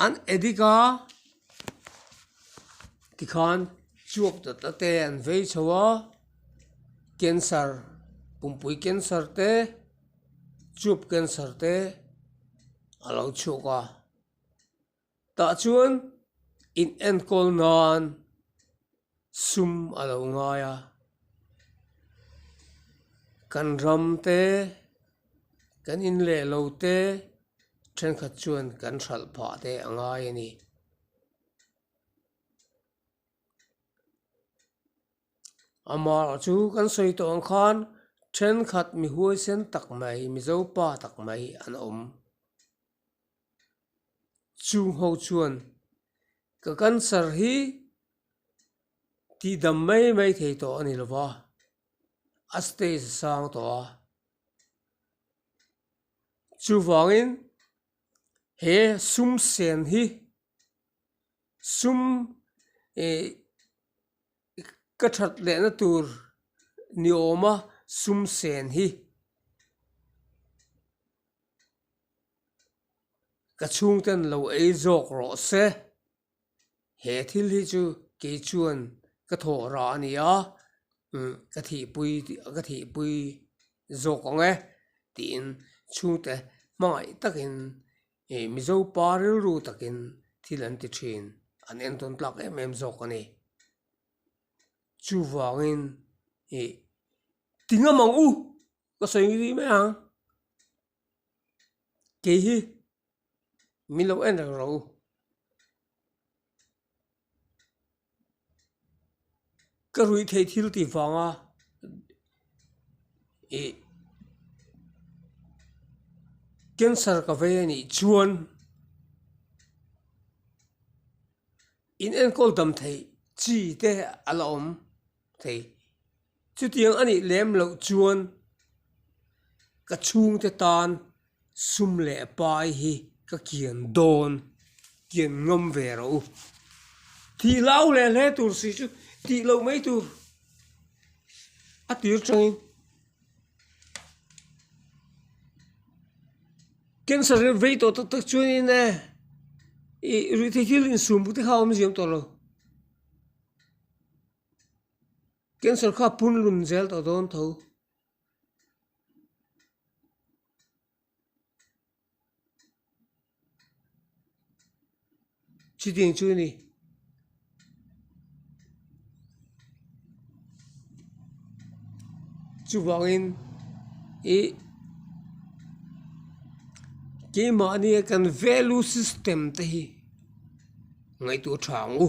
An edik a tikhan chhuak ta ta te an vei chho a cancer pumpui cancer te chhup cancer te a lo chhuak a tah chuan inenkawl nan-- Sum a lo ngai a, kan ram te, kan in leh lo te thenkhat chuan kan hralh phah te a ngai a ni. Amah chu kan sawi tawh ang khan thenkhat mi huaisen tak mai, mizo pa tak mai an awm. Chung ho chuan ka cancer hi tihdam mai mai thei tawh a ni lo va, a stage a sang tawh a, chuvangin he sum sen hi sum ihh. I ka that lehna tur ni awm a sum sen hi ka chhung ten lo ei zawk rawh se, he thil hi chu kei chuan ka thawh rah a nia umm ka thihpui ka thihpui zawk ang e tiin chhungte hmangaih takin. Hei hi Mizo pa rilru takin thil an ti thin, an entawn tlak em em zawk a ni. Chuvangin i ti ngam ang u, ka sawi rih mai ang. Kei hi min lo en reng ro u. Ka ruih thei thil tih vanga ih cancer ka vei a nih chuan in enkawl dam theih chi te a la awm thei. Chutiang a nih lem loh chuan ka chhungte tan sum leh pai hi ka kian dawn, kian ngam ve rawh u. Tih hlau leh hle tur si chu tih loh mai tur a tir tangin cancer ril vei tawh tak tak chuan in eh i ruihtheihthil insum bute kha awm ziam tawh lo. Cancer kha punlun zel ta dawn tho. Chi ding chu ni. Chu vangin i keimah ania kan value system te hi ngaihtuah tha ang u.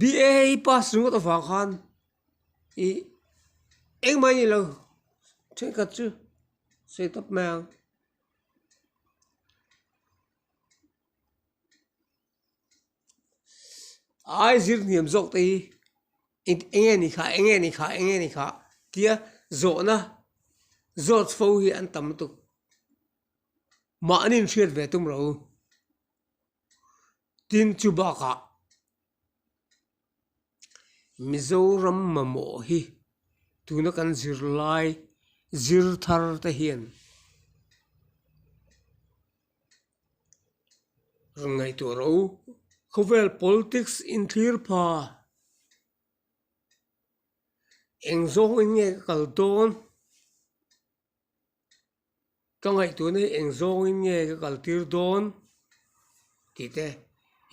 BA i pass ringawt avang khan i engmah i neilo thenkhat chu sawi tawp mai ang. Ai zir hniam zawk te hi eng nge ni kha eng nge ni kha eng nge ni kha tia zawhna zawt fo hi an tam lutuk mahni an hriat ve tum lo. Tin, chu bakah Mizoram mamawh hi tuna kan zir lai zirthar te hian rawn ngaihtuah ro. Khawvel politics inthlîr pha eng zawngin nge ka kal dawn? ka ngaihtuna hi eng zawngin nge ka kaltir dawn tih te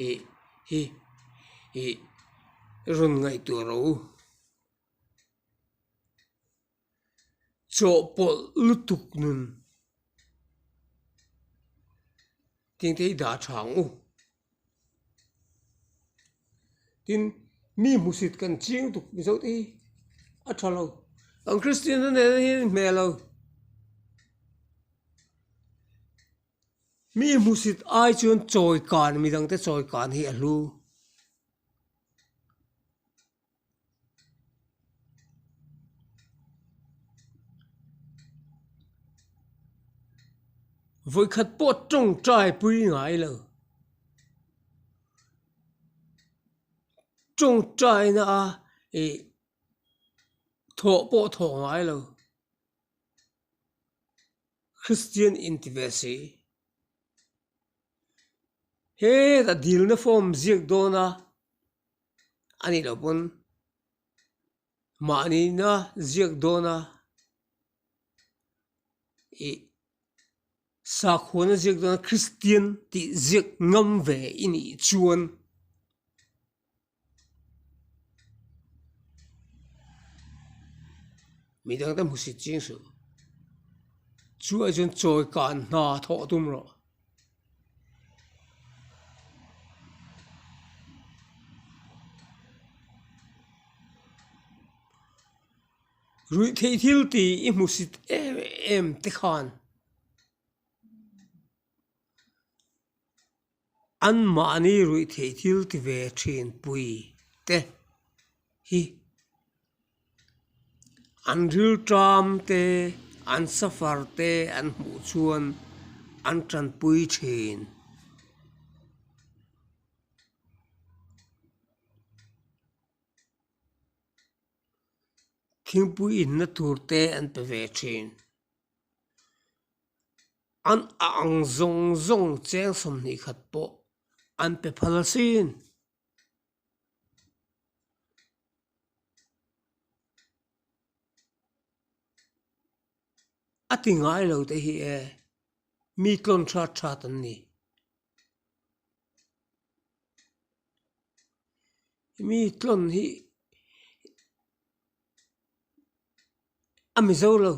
ih hi ih i rawn ngaihtuah ro u chawhpawlh lutuk nun tinte i dah a tha ang u. tin mi hmusit kan chiang tuk mizo te hi a tha lo an kristian te nen hi a ni hmel lo mi hmusit ai chuan chawi kan midang te chawi kan hi a hlu. Vawikhat pawh tawngtai pui ngai lo tawngtai na a ih thawh pawh thawh ngai lo kristian in ti ve si he tah dil na form ziak dawn a. anih loh pawn mahni ina ziak dawn a ih sakhuana ziak dawn a kristian tih ziak ngam ve i nih chuan mi dang te hmu si chiang suh chuaih chuan chawi kan hna thawh tum rawh. Ruihtheih thil ti i hmu sit em em te khan an mahni ruihtheih thil ti ve thinpui te hi. an rilṭam te, an suffer te an hmuh chuan an ṭanpui ṭhin. Thingpui inna tur te an pe ve ṭhin. An a ang zawng zawng cheng sawmhnih khat pawh an pe phal sin. A ti ngai lo te hi e, mi tlawn ṭhat ṭhat an ni. Mi tlawn hi a mi zo lo,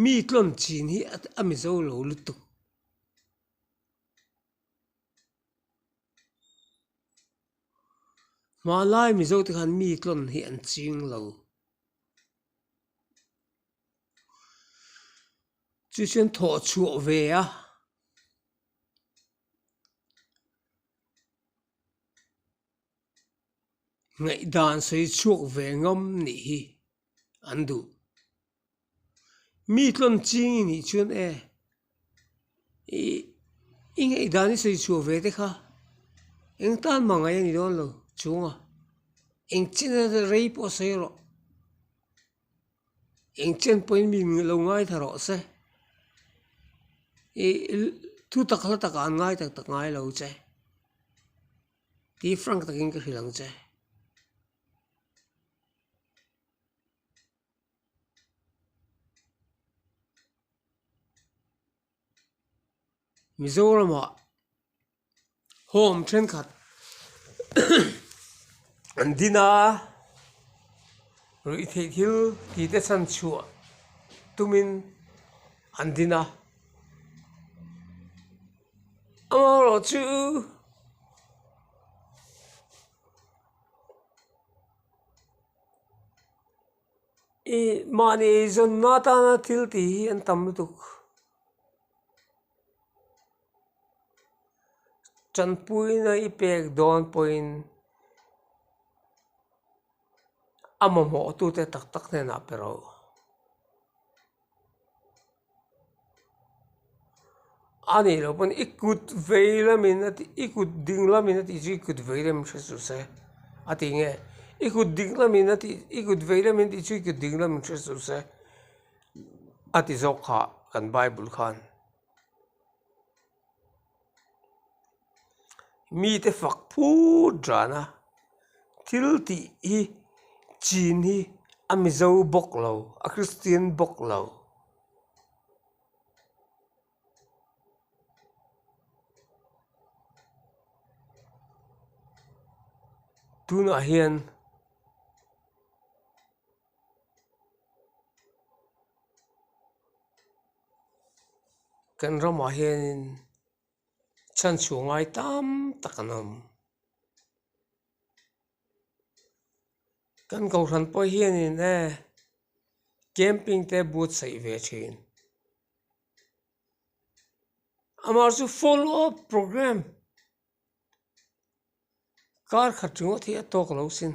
mi tlawn chin hi a mi zo lo lutuk. Hmahlai mizo te khan mi tlawn hi an ching lo chu chu an thawh chhuah ve a ngaihdan sawi chhuak ve ngam nih hi an duh. mi tlawn ching i nih chuan e ih i ngaihdan i sawi chhuah ve te kha eng tan mangaih a ni dawn lo chunga eng chen a zel rei pawh sawi rawh eng chen pawhin min lo ngai thla rawh se ih thu tak hla takah an ngai tak tak ngai lo che tih hi frank takin ka hrilh ang che. Mizoramah home thenkhat an din a ruih theih thil tite chhan chhuah tumin an din a amaherawhchu chu i mahni eizawn na tana thil tih hi an tam lutuk chanpuina i pek dawn pawhin a mamawh tute tak tak hnenah pe rauh. a nih loh pawn i kut veilam in a tih i kut dinglam in a tih chu i kut veilam in hre suh se a ti nge i kut dinglam in a tih i kut veilam in a tih chu i kut dinglam in hre suh se a ti zawk kha kan bible khan. mite fak phut dan a thil tih hi chin hi a mizo bawk lo a kristian bawk lo. tunah hian kan ramah hianin chhan chhu ngai tam tak an awm kan kohhran pawh hianin ehh camping te but saih ve thin amah chu full off programme kar khat ringawt hi a tawk lo sin.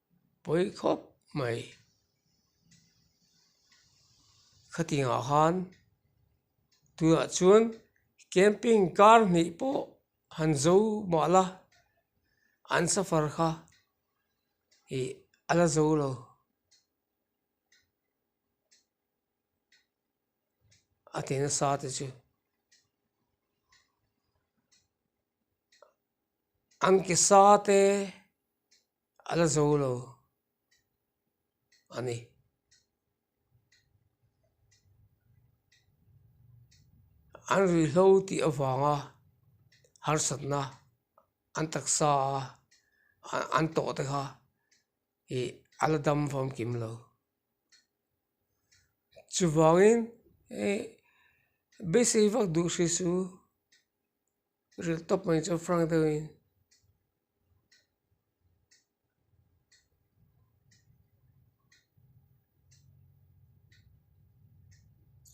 Pawi khawp mai. Khatingah khan tunah chuan camping kar hnih pawh han zo mah la an suffer kha ih a la zo lo. A ti nasa te chu an ke sa te-- A la zo lo a ni. An ri hlo tih avanga harsatna an taksa a an tawh te kha ih a la dam famkim lo. Chuvangin ih beisei vak duh hrisu. Ril tawp mai chu Frank deuh in.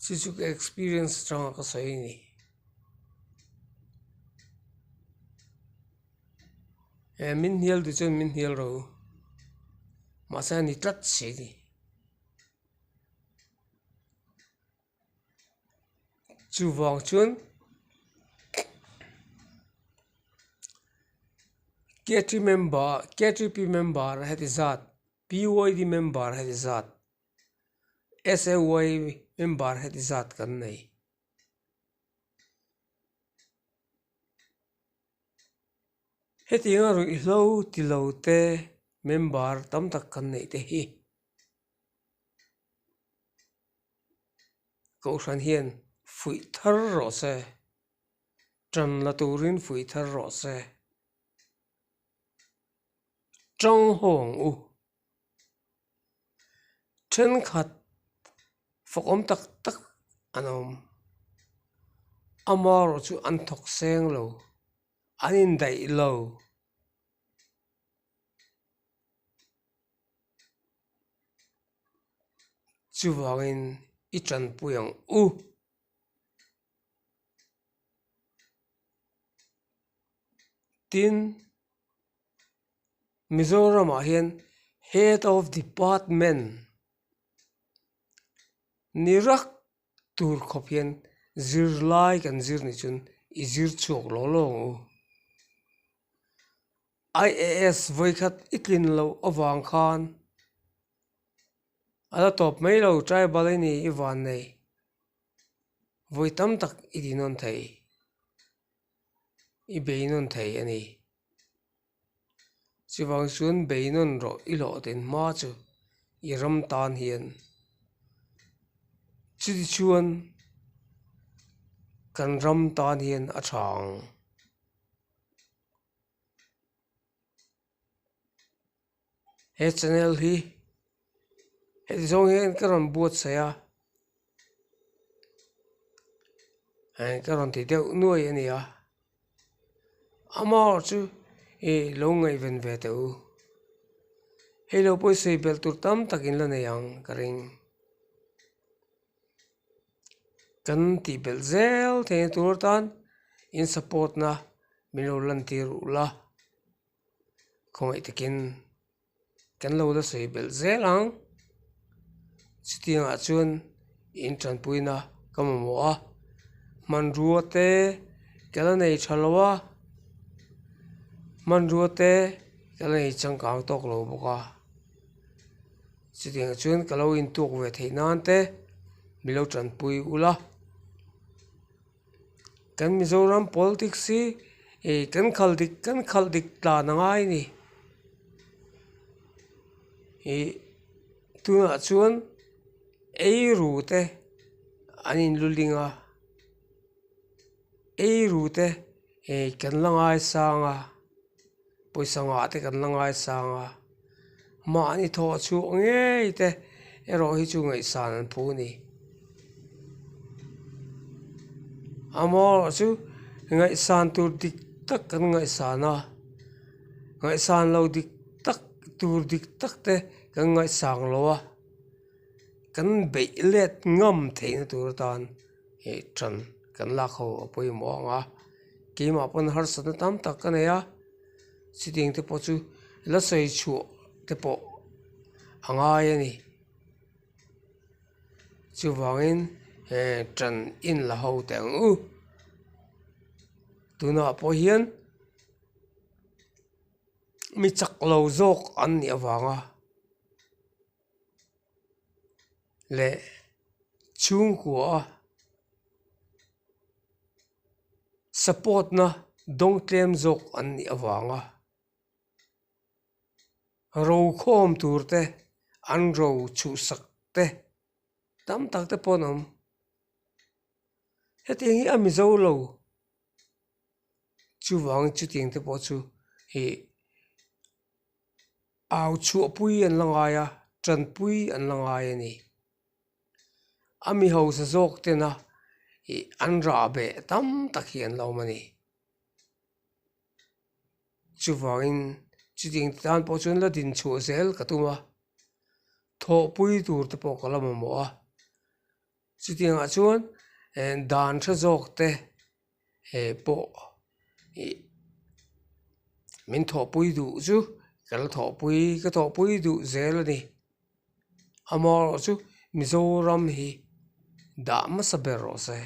Suzuki experience chang ka sawi ni. E min hial du chen min hial ro. Masa ni tlat si ni. chuvang chuan member member a heti zat member a heti zat member a heti zat kan nei. Hetiang a ruihhlo tilo te member tam tak kan neih te hi. Kohhran hian fuih thar rawh se, tan la turin fuih thar rawh se, chang haw ang u, thenkhat fawkawm tak tak an awm, ama erawh chu an thawk seng lo, an indaih lo. Chuvangin i tanpui ang u. Tin, Mizoramah hian head of department ni rak Tur khawp hian zirlai kan zir nih chuan i zir chhuak law lawng u. IAS vawi khat i tlin loh avang khan a la tawp mai lo tribal i ni i van nei vawi tam tak i tihnawn thei i beihnawn thei a ni. Chuvang chuan beinawn rawh i hlawhden hma chu i ram tan hian chiti chuan kan ram tan hian a tha ang. he channel hi hei zawng hian ka rawn buatsaih a eng ka rawn ti deuh nuai a ni a amaw chu ih lo ngaih ven ve teh u hei lo pawh i sawi bel tur tam tak in la nei ang ka ring kan tih belh zel thei a tur tan in support na min lo lantir uh la. khawmai takin kan lo la sawi belh zel ang chutiangah chuan in tanpuina ka mamawh a hmanrua te ka la nei tha lo a hmanrua te ka la nei changkang tawk lo bawk a chutiangah chuan ka lo intuk ve theih nan te milo tanpui ula. kan mizoram politics hi ih kan khal dik kan khal dik tlan a ngai a ni ih tunah chuan eiru te an in lu ling a eiru te ih kan la ngai sang a. Pawisa ngah te kan la ngaisang a, mahni thaw a chhuak ngei te, erawh hi chu ngaihsan an phu ni. A mawirawh chu ngaihsan tur dik tak kan ngaihsan a, ngaihsan lo dik tak tur dik tak te kan ngaihsang lo a, kan beih let ngam theihna tur atan. heh tan kan lak ho a pawimawh ang a keimah pawn harsa na tam tak ka nei a chutting te pawh chu la sawi chhuah te pawh a ngai a ni chuvangin heh tan in la ho teh ang u tunah pawh hian mi chak lo zawk an nih avang a. leh chhungkua a support na dawng tlem zawk an nih avang a ro khawm tur te an ro chhuhsak te tam tak te pawh an awm hetiang hi a mizo lo chuvang chutiang te pawh chu ihh-- Au chhuahpui an la ngai a, tanpui an la ngai a ni. A mi hausa zawk tena ih an rah beh tam tak hi an la awm a ni. Chuvangin chutiang te tan pawh chuan la din chhuah zel ka tum a, thawhpui tur te pawh ka la mamawh a. Chutiangah chuan dan ṭha zawkte pawh min thawhpui duh chu ka la thawhpui, ka thawhpui duh zel a ni. Amaherawhchu Mizoram hi dah hmasa ber rawh se.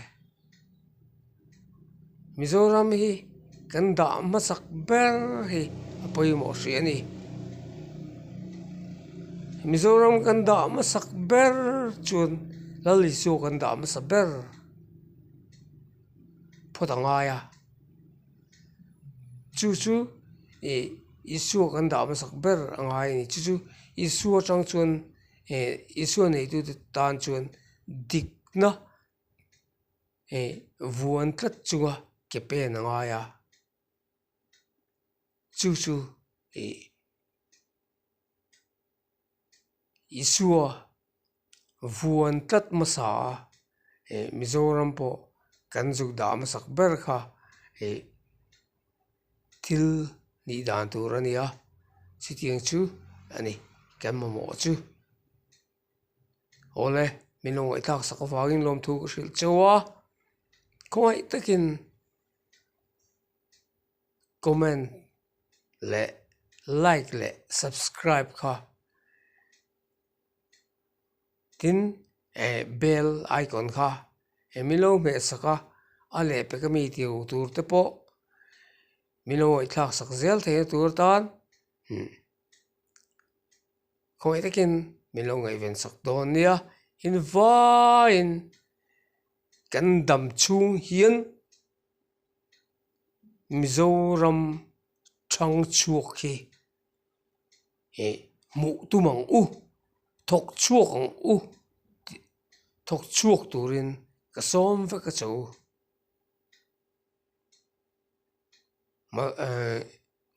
Mizoram hi kan dah hmasak ber hi a pawimawh hrih a ni Mizoram kan dah hmasak ber chuan Lali chu kan dah hmasa ber phawt a ngai a chu chu ih Isua kan dah hmasak ber a ngai a ni chu chu Isua atang chuan eh Isua neihtu te tan chuan dikna-- hei vuan tlat chunga ke pen a ngai a chu chu ih isua vuan tlat hmasa a eh mizoram pawh kan zuk dah hmasak ber kha hei thil hnih dan tur a nia chutiang chu a ni kan mamawh chu. awle min lo ngaihthlak sak avangin lawmthu ka hrilh cheu a khawngaih takin comment leh like leh subscribe kha tin eh bell icon kha eh min lo hmehsak a a leh pe ka mi tiu tur te pawh min lo ngaihthlak sak zel thei na tur atan imm-- khawi takin min lo ngaihven sak dawn nia in vaiin kan dam chhung hian mizoram thang chhuak hi ih hmuh tum ang u thawk chhuak ang u tih thawk chhuak turin ka sawm vek a che u.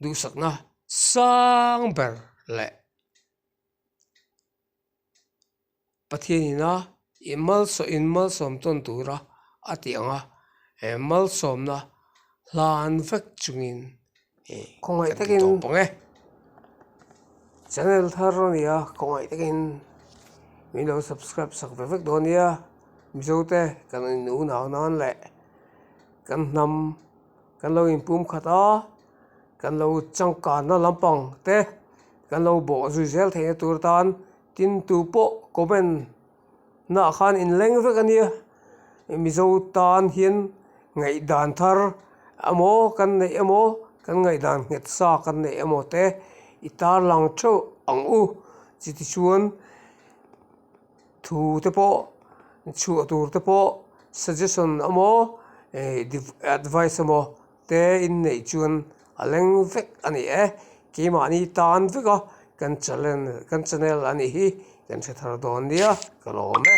duhsakna sang ber leh Pathian ina malsawm inmalsawm tawn tura a tih ang a he malsawmna hlan vek chungin khawngaih takin kan ti tawh pawng e channel thar a nia khawngaih takin min lo subscribe sak ve vek dawn a nia Mizote kan inunau nan leh. kan hnam kan lo in pum khat a kan lo changkan na lampang te kan lo bawh zui zel theih na tur atan tin tu pawh comment na ah khan in leng vek a nia mizo tan hian ngaih dan thar a maw kan neih a maw kan ngaih dan nghet sa kan neih a maw te i tarlang theuh ang u chutichuan-- thu te pawh chhuah tur te pawh suggestion a maw eh div advice a maw te inneih chuan a leng vek a ni e keimahni tan vek a kan chalen kan channel anih hi kan hre thar dawn nia ka lawm e.